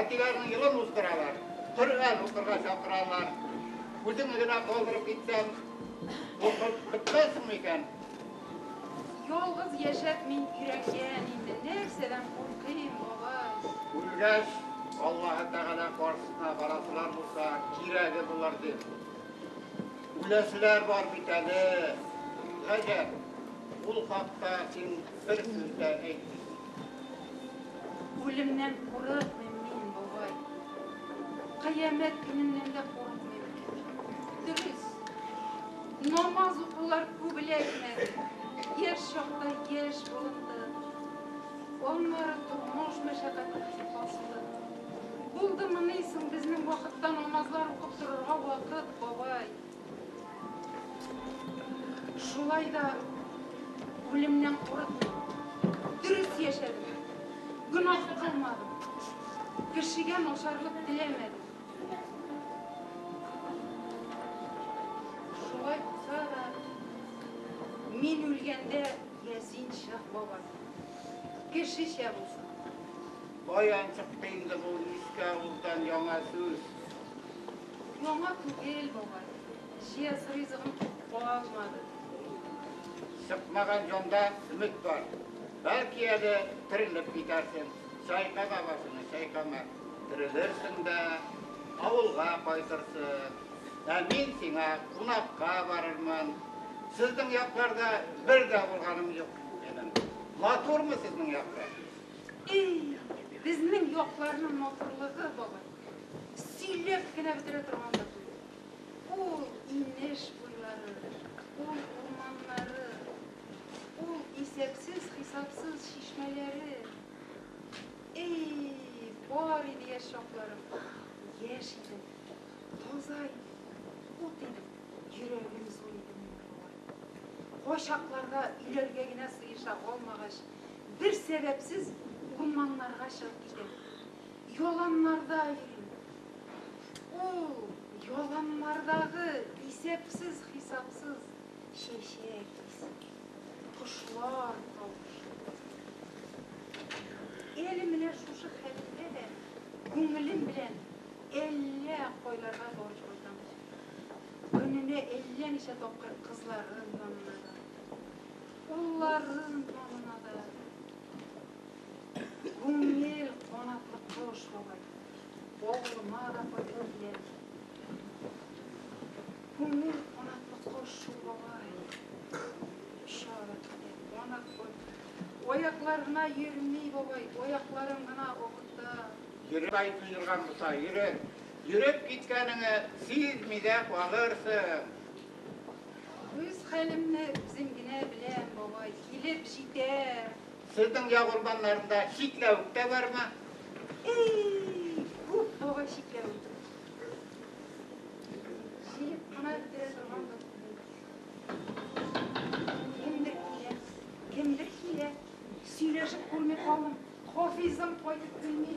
Әтиләренең елын уздыралар. Коръән укырга чакыралар. Үзеңне генә калдырып китсәң, укып бетмәссеңме икән? Ялгыз яшәп мин өйрәнгән инде, нәрсәдән куркыйм, бабай? Үлгәч, Аллаһы Тәгалә каршысына барасылар булса, кирәге булыр дип. Үләселәр бар бит әле. Гаҗәп, ул хакта син бер сүз дә әйтмисең. Үлемнән курыкмыйм мин, бабай. Кыямәт көненнән дә курыкмыйм. Дөрес, намаз укулар күп эләкмәде. Яшь чакта яшь булынды. Аннары тормыш мәшәкате кисеп басты. Булдымыни соң безнең вакытта намазлар укып торырга вакыт, бабай? Шулай да үлемнән курыкмыйм. Дөрес яшәдем. Гөнаһ кылмадым. Кешегә начарлык теләмәдем. Шулай булса да, мин үлгәндә Ясин Шах бабай. Кешечә булсын. Каян чыкты инде бу иске авылдан яңа сүз? Яңа түгел, бабай. Җиәс ризыгын калмады. Сыкмаган җанда өмет бар. Бәлки әле терелеп китәрсең. Чайка бабасыны, чайкама. Терелерсең дә авылга кайтырсың. Ә мин сиңа кунакка барырмын. Сезнең якларда бер дә булганым юк минем. Матурмы сезнең яклар? Эй, безнең якларның матурлыгы, бабай. Сөйләп кенә бетерә торган да түгел. Ул инеш буйлары, ул урманнары, ул исәпсез хисапсыз чишмәләре. Эй, бар иде яшь чакларым. Яшь идем, таза идем, ут идем, йөрәгем зур иде минем. Кайчакларда өйләргә генә сыеша алмагач, бер сәбәпсез урманнарга чыгып китәм. Яланнарда йөрим. Ул яланнардагы исәпсез-хисапсыз чәчәк исе, кошлар тавышы. Әле менә шушы хәлемдә дә күңелем белән әллә кайларга барып кайтам. Көненә әллә ничә тапкыр кызларым янына да, улларым янына да, Күңел канатлы кош бабай, бавырыма да кайтыр дияр. Күңел канатлы кош бабай, шары китә, канат кой. Аякларына йөрми бабай, аякларын гына акыта. Йөреп ай туйдырган булса, йөрер. Йөреп киткәнеңе сизми дә калырсың. Үз хәлемне үзем генә беләм, бабай, килеп җитәр. Сезнең як урманнарында чикләвек тә бармы? Эй, уф, бабай чикләвек. Җыеп кына бетерә торган да Кемдер килә, кемдер килә. Сөйләшеп күрми калдым. Хафизым кайтып килми.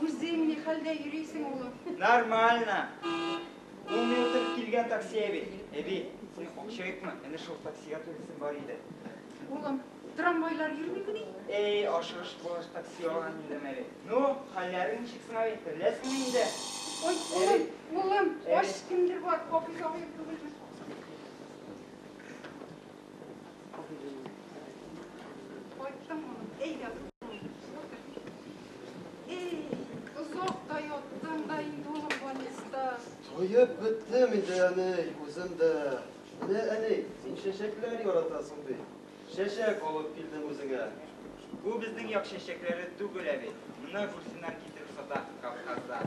Үзең ни хәлдә йөрисең, улым? Нормально. Ул мин утырып килгән такси әби. Әби, син кукчыйкмы? Әнә шул таксига турысын бар иде. Улым, трамвайлар йөрмикмени? Эй, ашыгыш булыш такси алган инде Мәри. Ну, хәлләрең ничек соң әби? Тереләсеңме инде? Ой, улым, улым, ач кемдер бар, Хафиз абыем түгелме? Туеп беттем инде, әней, үзем дә. Менә, әней, син чәчәкләр яратасың бит. Чәчәк алып килдем үзеңә. Бу безнең як чәчәкләре түгел әле. Мына күрсеннәр китереп сата Кавказдан.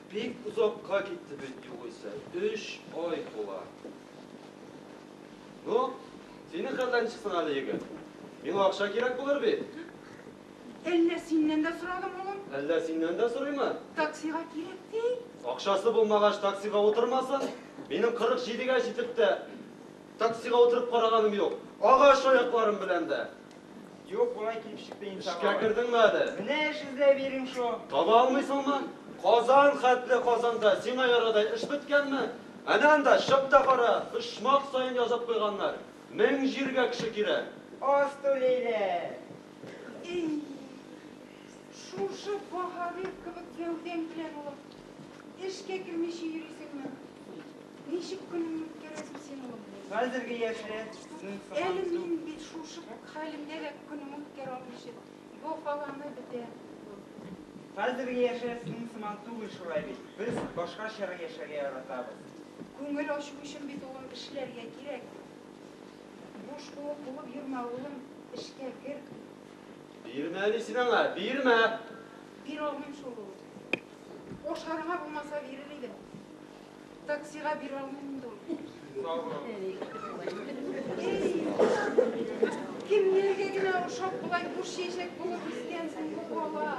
Бик озакка китте бит югыйсә, өч ай тула. Ну, синең хәлдән чыксын әле, егет. Миңа акча кирәк булыр бит. Әллә синнән дә сорадым, улым? Әллә синнән дә сорыймы? Таксига кирәк ди. Акчасы булмагач, таксига утырмасын. Минем 47 гә җитеп тә, таксига утырып караганым юк. Агач аякларым белән дә. Юк, болай килеп чыкты инде. Эшкә кердеңме әле? Менә эш эзләп йөрим шул. Таба алмыйсыңмы? Казан хәтле Казанда сиңа ярадай эш беткәнме? Әнә анда, чык та кара, почмак саен язып куйганнар, мең җиргә кеше кирәк. Аз түлиләр. Ий, шушы баһадир кебек гәүдәң белән, улым, Эшкә кермичә йөрисеңме? Ничек көнеңне үткәрәсең син, улым? Хәзерге яшьләр безнең сыман Әле түгел. мин бит шушы хәлемдә дә көнемне үткәрә алмыйча, бохаланы бетә. Хәзерге яшьләр сезнең сыман түгел шулай бит. Без башкачарак яшәргә яратабыз. Күңел ачу өчен бит, улым, эшләргә кирәк. Буш куык булып йөрмә, улым, эшкә кер. Бирмә мин сине аңа, бирмә! Бирә алмыйм шул, улым. Ашарга булмаса бирер идем. Таксига бирә алмыйм инде ул. Кемнәргә генә ошап болай буш чәчәк булып үскәнсең бу бала.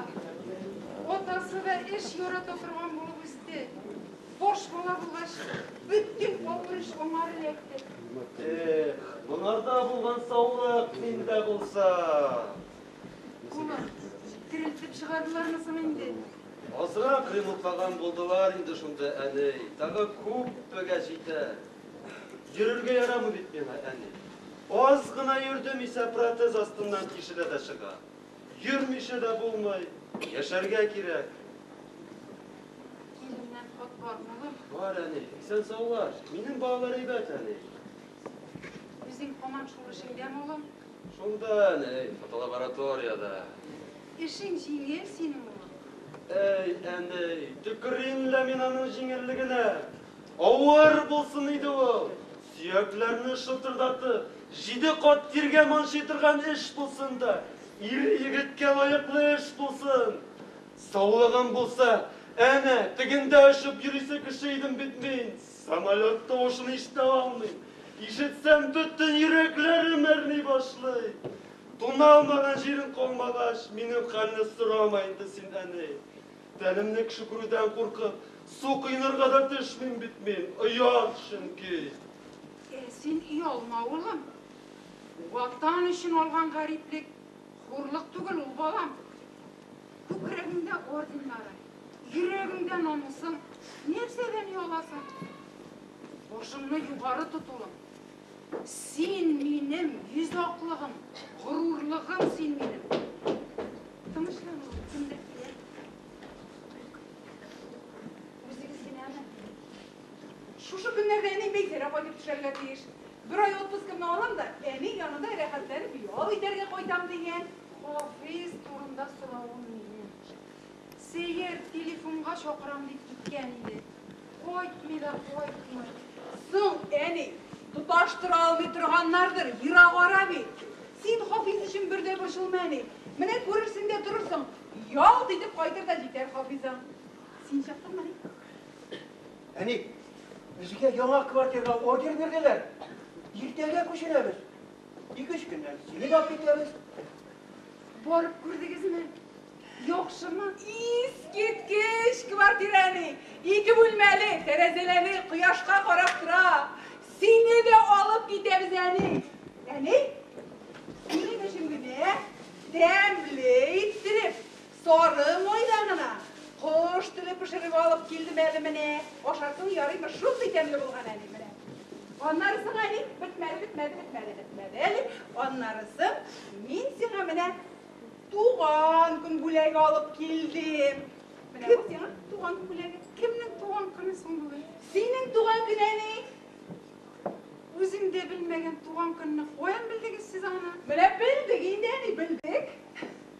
Атасы да эш ярата торган булып үсте. Баш бала булгач, бөтен авыр эш аңа эләкте. Эх, монарда булган саулык миндә булса. Кулы терелтеп чыгардылармы соң инде? Азрак ремонтлаган булдылар инде шунда, әни. Тагы күппегә җитәр. Йөрергә ярамый бит миңа, әни. Аз гына йөрдем исә протез астыннан тишелә дә чыга. Йөрмичә дә булмый, яшәргә кирәк. Киленнән хат бармы, улым? Бар, әни. Исән-саулар. Минем балалар әйбәт, әни. Үзең һаман шул эшеңдәме, улым? Шунда әнә, фотолабораториядә. Эшең җиңел синең, улым. Әй, әнәй, төкерим лә мин аның җиңеллегенә. Авыр булсын иде ул. Сөякләрне шытырдатып, җиде кат тиргә манчый торган эш булсын да, ир-егеткә лаеклы эш булсын. Саулыгым булса, әнә, тегендә очып йөрисе кеше идем бит мин. Самолет тавышын ишетә алмыйм. Ишетсәм, бөтен йөрәкләрем әрни башлый. Туналмаган җирең калмагач, минем хәлне сорама инде син, әни. Тәнемне кшкүрүдән куркып, су коенырга да төшмим бит мин, оят, чөнки. Ә син оялма, улым. Ватан өчен алган гариплек, хурлык түгел ул, балам. Күкрәгеңдә орденнарың, йөрәгеңдә намусың, нәрсәдән ояласың? Башыңны югары тотуың. Син минем йөз аклыгым, горурлыгым син минем. Тынычлану, кемдер килә. Үзегез генәме? Шушы көннәрдә әни Бәйсәрә кайтып төшәргә тиеш. Бер ай отпускымны алам да, әни янында рәхәтләнеп ял итәргә кайтам дигән. Хафиз турында соравын мине Сәер телефонга чакырам дип киткән иде. Кайтмый да кайтмый. Соң, әни, тоташтыра алмый торганнардыр, ерагара бит. Син Хафиз өчен бер дә борчылма, әни. Менә күрерсең дә торырсың, ялт итеп кайтыр да җитәр Хафизаң. Син чыктыңмы, әни? Әни, безгә яңа квартирага ордер бирделәр. Иртәгә күченәбез. Ике-өч көннән сине дә алып китәбез. Барып күрдегезме? Яхшымы? Искиткеч квартирәни! Ике бүлмәле, тәрәзәләре кояшка карап тора. Сине дә алып китәбез, әни. Әни? Синең өчен генә тәмле иттереп, Сары майда гына кош теле пешереп алып килдем әле менә. Ашарсың, ярыймы, шундый тәмле булган әле менә. Аннарысын әле бетмәде, бетмәде, бетмәде, бетмәде әле. Аннарысын мин сиңа менә туган көн бүләге алып килдем. Менә бу сиңа туган көн бүләге. Кемнең туган көне соң бүген? Синең туган көн әни. Үзем дә белмәгән туган көнне каян белдегез сез аны? Менә белдек инде әни, белдек.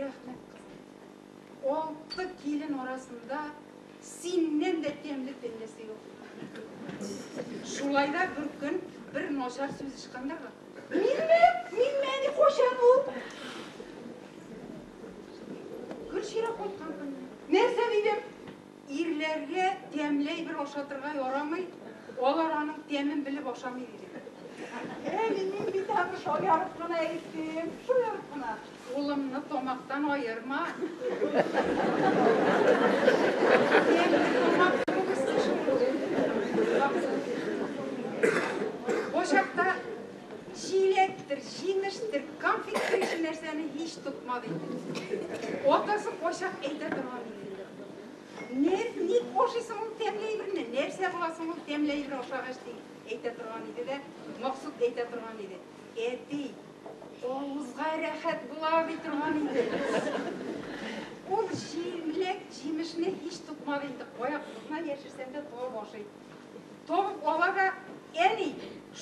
Рәхмәт, кызым. Алты килен арасында синнән дә тәмле теллесе юк. Шулай да бер көн бер начар сүз ычкындырды. Минме? Минме? Ни кайчан ул? Гөлчирә кайткан көнне. Нәрсә дидем? Ирләргә тәмләй бер ашатырга ярамый, алар аның тәмен белеп ашамый дидем. Әни, мин бит аны шаярып кына әйттем, шаярып кына. Улымны тамактан аерма. Чилектер, җимештер, конфеттер ише нәрсәне һич тотмады инде. Атасы кайчак әйтә торган иде. Нәр, ник ашыйсың ул тәмле әйберне? Нәрсә буласың ул тәмле әйбер ашагач ди, әйтә торган иде дә, Максут әйтә торган иде. Әти, авызга рәхәт була ди торган иде. Ул җимлек, җимешне һич тотмады инде. Кая кызна яшерсәң дә туа башы иде. Табып аларга әни,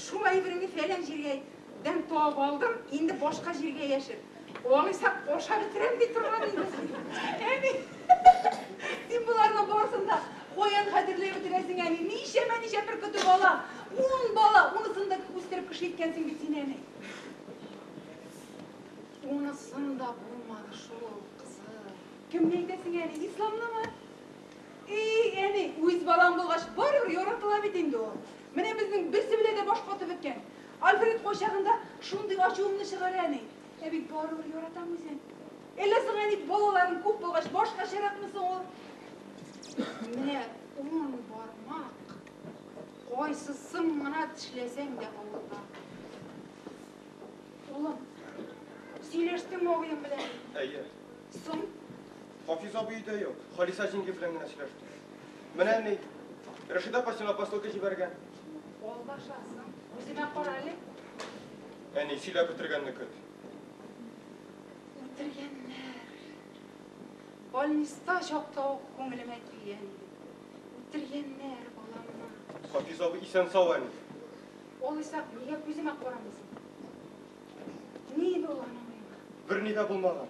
шулай бер мин фәлән җиргәдән табып алдым, инде башка җиргә яшер. Алайса аша бетерәм ди торган инде. Әни, син боларны барысын да каян хәтерләп бетерәсең, әни? Ничәмә ничә бер көтү бала, ун бала, унысын да үстереп кеше иткәнсең бит син, әни. Унысын да булмады шул, кызым. Кемне әйтәсең, әни? Исламнымы? Эй, әни, үз балаң булгач, барыбер яратыла бит инде ул. Менә безнең берсе белән дә баш катып беткән. Альфред кайчагында шундый ачуымны чыгара, әни. Ә бит барыбер яратам үзен. Әллә соң, әни, балаларың күп булгач, башкачаракмы соң ул? Менә ун бармак. Кайсысын гына тешләсәң дә авырта. Улым, сөйләштеңме абыең белән? Әйе. Соң? Хафиз абый өйдә юк. Халиса җиңги белән генә сөйләште. Менә ни. Рәшидә апа сиңа посылка җибәргән. Алдашасың. Үземә кара әле. Әни, сөйләп бетергәнне көт. Үтергәннәр. Больниста чакта ук күңелемә килгән иде. Үтергәннәр баламны. Хафиз абый исән-сау әле. Ул исә нигә күземә карамыйсың? Ни иде ул аның уйлары? Берни дә булмаган.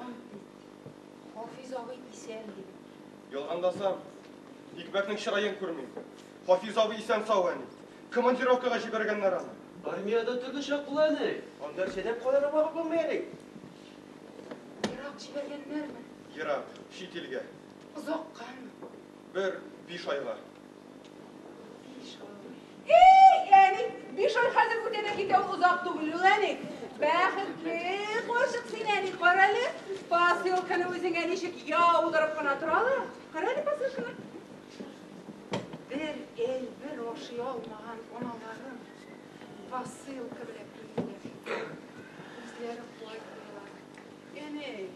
Ант бит. Хафиз абый исән, диде. Ялгандасам, Икмәкнең чыраен күрмим. Хафиз абый исән-сау, әни. Командировкага җибәргәннәр аны. Армиядә төрле чак була, әни. Анда эшләп калырга вакыт булмый, әни. Ерак җибәргәннәрме? Ерак, чит илгә. Озаккамы? Бер биш айга. Биш ай. Эй, әни, биш ай хәзер үтә дә китә, ул озак түгел, ул әни. Бәхетле карчык син, әни, карале, посылканы үзеңә ничек яудырып кына торалар. Карале посылканы. Бер ел бер ашый алмаган аналарым посылка белән килделәр. Үзләре куай булалар. Әни,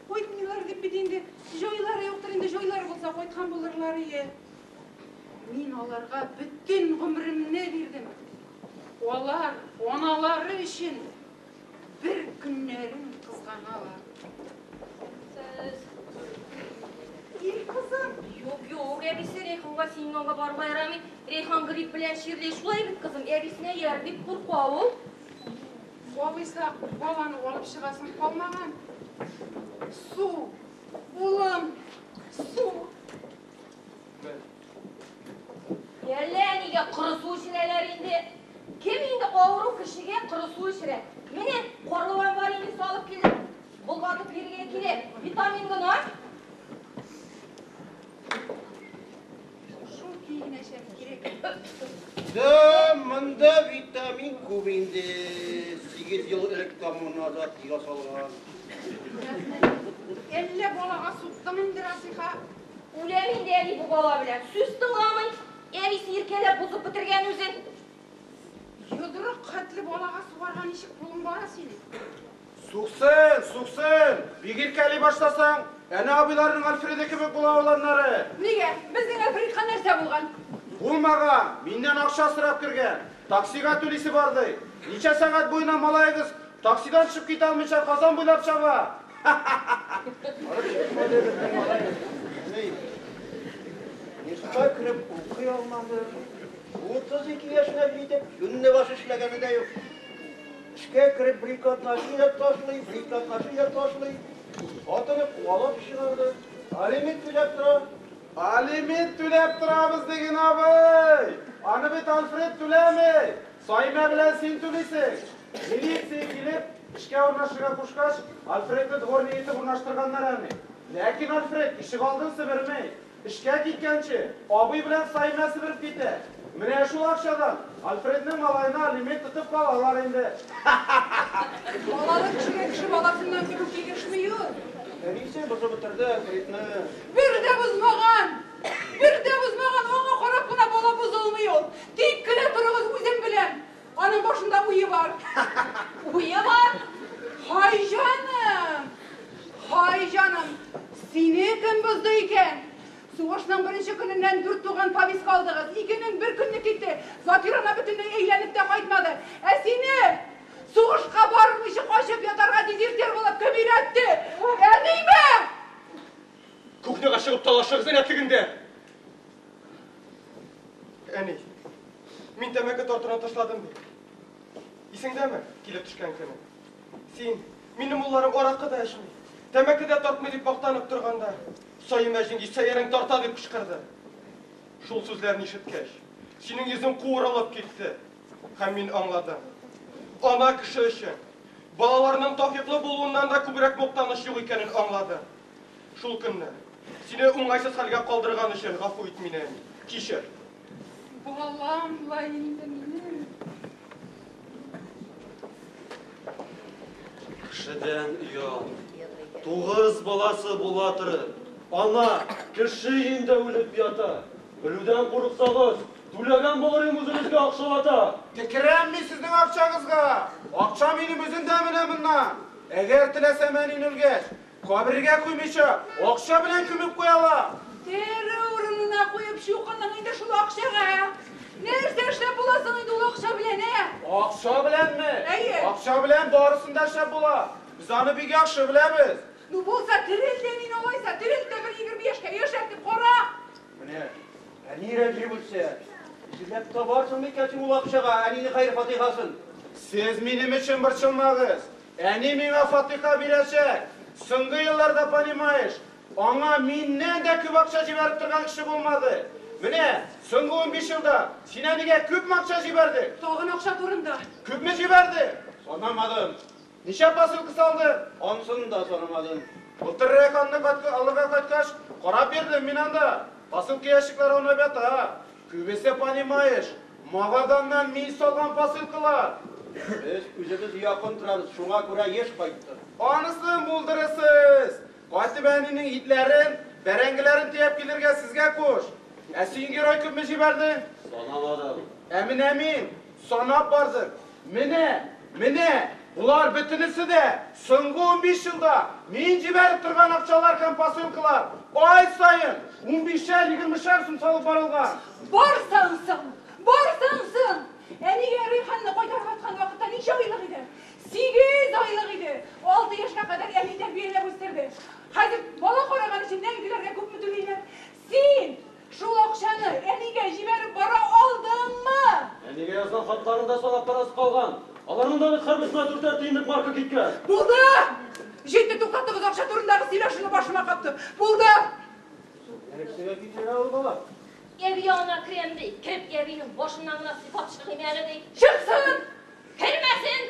Кайтмыйлар дип бит инде җайлары юктыр инде, җайлары булса кайткан булырлар ие. Мин аларга бөтен гомеремне бирдем. Алар аналары өчен бер көннәрен кызганалар. Сез Ир кызым. Юк, юк, әбисе Рәйханга синең янга барырга ярамый. Рәйхан грипп белән чирли. Шулай бит, кызым, әбисенә ияр дип курка ул. Алайса, баланы алып чыгасың калмаган. Су, улым, су. Әллә нигә коры су эчерәләр инде. Кем инде авыру кешегә коры су эчерә? Менә карлыган бар инде салып килдем. Болгатып бирергә кирәк. Витамин гына. Шул киенәчәк кирәк. Да, монда витамин күп инде. Сигез ел элек коммунада ясалган. Әллә балага суктың инде, Расиха? Үләм инде әни бу бала белән. Сүз тыңламый. Әнисе иркәләп бозып бетергән үзен. Йодрык хәтле балага сугарга ничек кулың бара синең? Суксын, суксын! Бик иркәли башласаң, әнә абыйларының Альфреды кебек була ул аннары. Нигә? Безнең Альфредка нәрсә булган? Булмаган, миннән акча сорап кергән. Таксига түлисе бар ди. Ничә сәгать буена малаегыз таксидан төшеп китә алмыйча Казан буйлап чаба? Нефтька кереп укый алмады. 32 яшенә җитеп, юнныбаш эшләгәне дә юк. Эчкә кереп брикотнаши да ташлый, брикотнаши да ташлый. Хатыны куалап чыгарды. Алимент түләп тора. Алимент түләп торабыз диген абый. Аны бит Альфред түләми. Саймә белән син түлисең. Милиция килеп, эшкә урнашырга кушкач, Альфредны дворник итеп урнаштырганнар әле. Ләкин Альфред ишек алдын себерми. Эшкә киткәнче, абый белән Саимә себереп китә. Менә шул акчадан Альфредның малаена алимент тотып калалар инде. Балалы кешегә кеше баласыннан көлү килешми ул. Әнисе бозып бетерде Альфредны. Бер дә бозмаган! Бер дә бозмаган! Аңа карап кына бала бозылмый ул. Тик кенә торыгыз, үзем беләм. Аның башында уе бар. Уе бар? Хай җаным! Хай җаным! Сине кем бозды икән? Сугышның беренче көненнән дүрт туган Павис калдыгыз. Икенең бер көнне китте. Закир ана бөтенләй әйләнеп тә кайтмады. Ә сине сугышка бармыйча качып ятарга дезертир булып кем өйрәтте? Әниме? Кухняга чыгып талашыгыз, рәтлегендә! Әни, мин тәмәке тартуны ташладым бит. Исеңдәме, килеп төшкән көне? Син, минем улларым аракы да эчми, тәмәке дә тартмый дип мактанып торганда, Саимә җиңги сәерен тарта дип кычкырды. Шул сүзләрне ишеткәч, синең йөзең куырылып китте. Һәм мин аңладым. Ана кеше өчен балаларының тафиклы булуыннан да күбрәк мактаныч юк икәнен аңладым. Шул көнне. Сине уңайсыз хәлгә калдырган өчен гафу ит мине, әни. Кичер. Балам ла инде минем. Кешедән оят. Тугыз баласы була торып, ана кеше өендә үлеп ята. Белүдән курыксагыз, түләгән булырым үзегезгә акчалата. Текерәм мин сезнең акчагызга. Акча минем үземдә менә моннан. Әгәр теләсәм әнин үлгәч, Кабергә куймыйча, акча белән күмеп куялар. Тере урынына куеп чукындың инде шул акчага, ә? Нәрсә эшләп була соң инде ул акча белән, ә? Акча беләнме? Әйе. Акча белән барысын да эшләп була. Без аны бик яхшы беләбез. Ну, булса, терелт тә мине алайса, терелт тә бер егерме яшькә яшәртеп кара! Менә, әнирәк революция! Эзләп табарсыңмы икән син ул акчага әнинең хәер-фатихасын? Сез минем өчен борчылмагыз. Әни миңа фатиха бирәчәк. Соңгы елларда, понимаешь, аңа миннән дә күп акча җибәреп торган кеше булмады. Менә, соңгы унбиш елда син әнигә күпме акча җибәрдең? Тагын акча турында. Күпме җибәрдең? Санамадым. Ничә посылка салдың? Анысын да санамадым. Былтыр Рәйханны катка алырга кайткач, карап йөрдем мин анда. Посылка ящиклары аунап ята. Күбесе понимаешь, Магаданнан мин салган посылкалар. Без үзебез якын торабыз, шуңа күрә еш кайттык. Анысын булдырырсыз! Кайтып әнинең итләрен, бәрәңгеләрен төяп килергә сезгә куш. Ә син герой күпме җибәрдең? Санамадым. Ә менә мин. Санап бардык. Менә, менә, болар бөтенесе дә соңгы унбиш елда мин җибәреп торган акчалар һәм посылкалар. Ай саен унбишәр-егермешәр сум салып барылган. Барсаң соң, барсаң соң! Әнигә Рәйханны кайтарып аткан вакытта ничә айлык иде? Сигез айлык иде. Алты яшькә кадәр әни тәрбияләп үстерде. Хәзер бала караган өчен нәнкеләргә күпме түлиләр? Син! Шул акчаны әнигә җибәреп бара алдыңмы? Әнигә язган хатларың да салап парасы калган. Аларның да бит һәрберсенә дүртәр тиенлек марка киткән. Булды! Җитте, туктатыгыз, акча турындагы сөйләшүне башыма каптым. Булды! Нәрсәгә китерә ул бала? Әби янына керәм ди, кереп әбинең башыннан гына сыйпап чыгыйм әле ди. Чыксын! Кермәсен!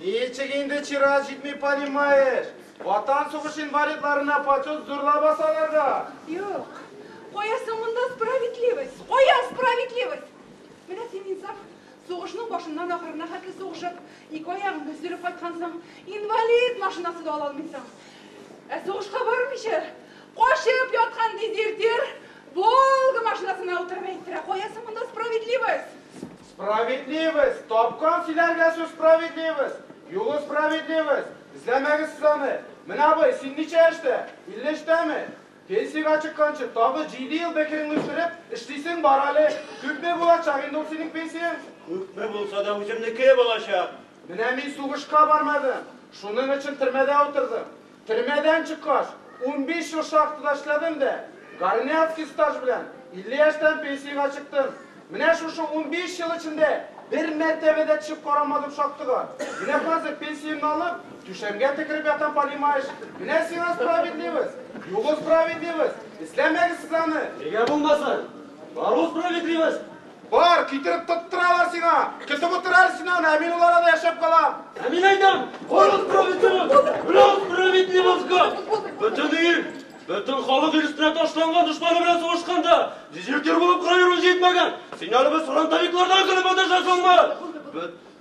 Ничек инде чират җитми, понимаешь? Ватан сугышы инвалидларына почет зур лаба салырга? Юк. Куясың монда справедливость, куя справедливость! Менә син, Инсаф, сугышның башыннан ахырына хәтле сугышып, ике аягыңны өзелеп кайткансың, инвалид машинасы да ала алмыйсың. Ә сугышка бармыйча, качып яткан дезертир Волга машинасына утырып әйттерә, куясың монда справедливость! Справедливость! Тапкан сөйләргә сүз справедливость! Юлы справедливость! Эзләмәгез сез аны! Менә абый, син ничә яшьтә? Илле өчтәме? Пенсиягә чыкканчы, тагы җиде ел бәкереңне үстереп, эшлисең бар әле! Күпме булачак инде ул синең пенсияң? Күпме булса да үземнеке булачак! Менә мин сугышка бармадым, шуның өчен төрмәдә утырдым. Төрмәдән чыккач, унбиш ел шахтада эшләдем дә, горняцкий стаж белән, илле яшьтән пенсиягә чыктым. Менә шушы унбиш ел эчендә бер мәртәбә дә төшеп карамадым шахтага. Менә хәзер пенсиямне алып, түшәмгә текереп ятам, понимаешь? Менә сиңа справедливость! Югы справедливость! Эзләмәгез сез аны! Нигә булмасын? Бар ул справедливость! Бар, китереп тоттыралар сиңа. Көтеп утыр әле син аны, ә мин ул арада яшәп калам. Ә мин әйтәм, кайгыз проведемыз, брос проведимызга. Бөтен ир, бөтен халык ир өстенә ташланган дошманы белән сугышканда, дезертир булып кыра йөрү җитмәгән. Син әле без фронтовиклардан көлеп маташасыңмы?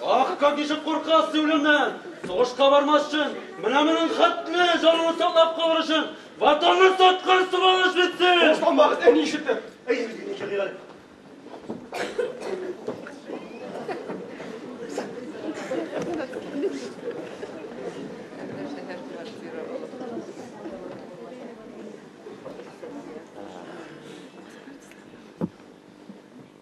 Ах, как ничек куркас син үлемнән! Сугышка бармас өчен, менә моның хәтле җанын саклап калыр өчен, ватанны саткан сугыш бит син! Сугыштан вакыт әни ишетте. Әй, генә килгән.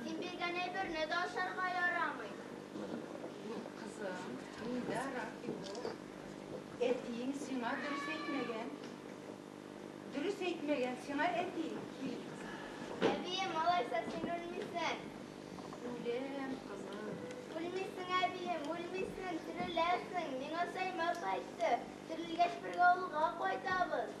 Син биргән әйберне дә ашарга ярамый. Юк, кызым, миндә рак юк. Әтиең сиңа дөрес әйтмәгән. Дөрес әйтмәгән сиңа әтиең, кил. Әбием, алайса син үлмисең. Үләм, кызым. Үлмисең, әбием, үлмисең, тереләсең. Миңа Саймас әйтте, терелгәч бергә авылга кайтабыз.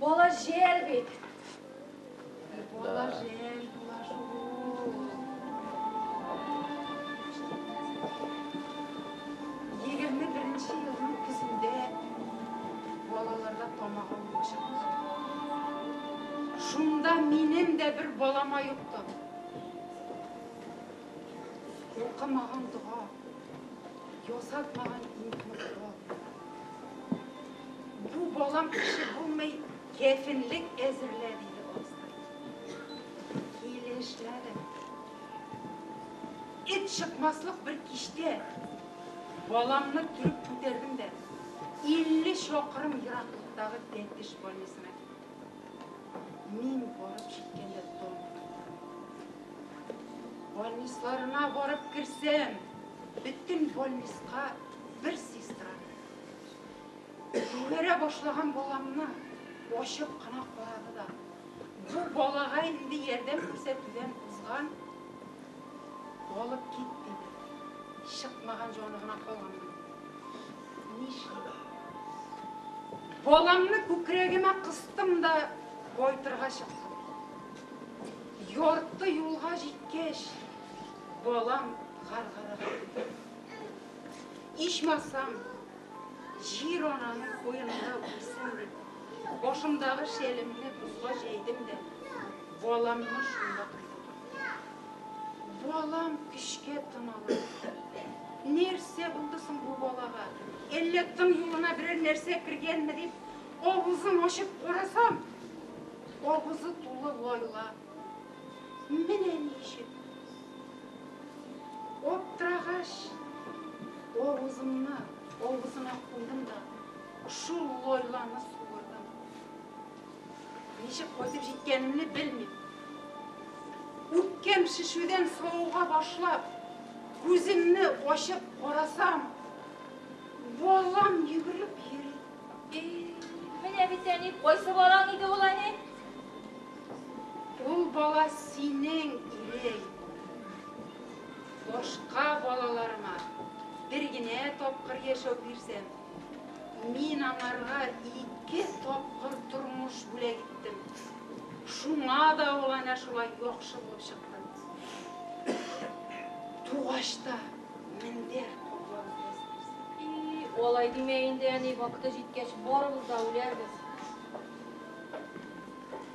Бала җәл бит. Бала җәл була шул. Егерме беренче елның көзендә балаларда тамагы булачак. Шунда минем дә бер балама юктым. Укымаган дога. Ясатмаган Бу балам кеше булмый, кәфенлек әзерлә, диде абыстай. Килешләде. Эт чыкмаслык бер киштә баламны төреп күтәрдем дә, 50 чакрым ераклыктагы Тәтеш больницына Мин барып җиткәндә таң Больнисларына барып керсәм, бөтен больниска бер сестра. Җибәрә башлаган баламны ачып кына карады да. Бу балага инде ярдәм күрсәтүдән узган алып кит диде. Чыкмаган җаны гына калган. Нишлим? Баламны күкрәгемә кыстым да кайтырга чыктым. Ярты юлга җиткәч, балам гаргарак китте. Ичмасам, җир ананың куенында үлсен дип, башымдагы шәлемне бозга җәйдем дә баламны шунда куйдым. Балам көчкә томалады. Нәрсә булды соң бу балага? Әллә тын юлына берәр нәрсә кергәнме дип, авызын ачып карасам, авызы тулы лайла. Менә ни өчен! Аптырагач, авызымны авызына куйдым да, шул лайланы суырдым. Ничек кайтып җиткәнемне белмим. Үпкәм шешүдән савыга башлап, күземне ачып карасам, балам йөгереп йөри. Менә бит әни, кайсы балаң иде ул әни? Ул бала синең ирең. Башка балаларыма бер генә тапкыр яшәү бирсәм, Мин аңарга ике тапкыр тормыш бүләк иттем. Шуңа да ул әнә шулай яхшы булып чыкты. Тугач та мендәр каплап үстерсен. И, алай димә инде, әни, вакыты җиткәч, барыбыз да үләрбез.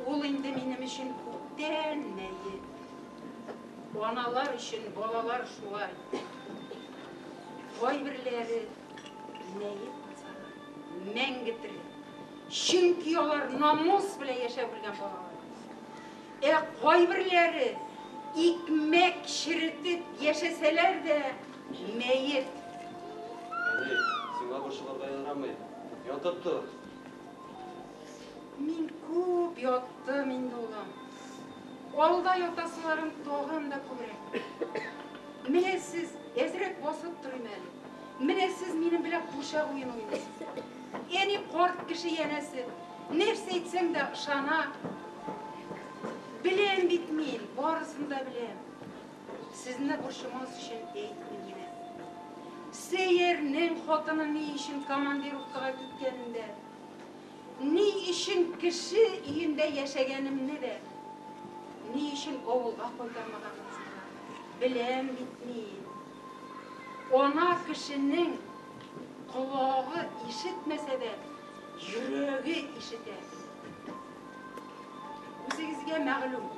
Ул инде минем өчен күптән мәет. Аналар өчен балалар шулай. Кайберләре. Җинаять булсалар, мәңге тере. Чөнки алар намус белән яшәп үлгән балалар. Ә кайберләре икмәк черетеп яшәсәләр дә, мәет. Әни, сиңа борчылырга ярамый. Ятып тор. Мин күп яттым инде, улым. Алда ятасыларым тагын да күбрәк. Менә сез әзрәк басып торыйм әле. Менә сез минем белән пурчак уен уйныйсыз. Әни карт кеше янәсе. Нәрсә әйтсәң дә ышана. Беләм бит мин, барысын да беләм. Сезне борчымас өчен әйтмим генә. Сәйәрнең хатыны ни өчен командировкага киткәнен дә, ни өчен кеше өендә яшәгәнемне дә, ни өчен авылга кайтармаганымызны да беләм бит мин. Ана кешенең колагы ишетмәсә дә, йөрәге ишетә. Үзегезгә мәгълүм,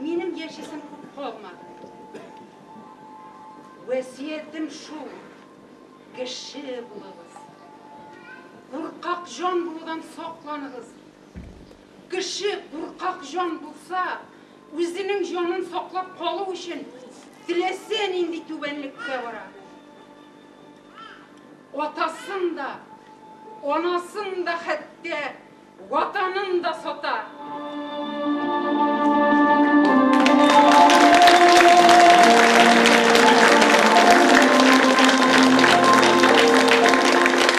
минем яшисем күп калмады. Вәсиятем шул, кеше булыгыз. Куркак җан булудан сакланыгыз. Кеше куркак җан булса, үзенең җанын саклап калу өчен теләсә нинди түбәнлеккә бара. Атасын да, анасын да, хәтта Ватанын да сата.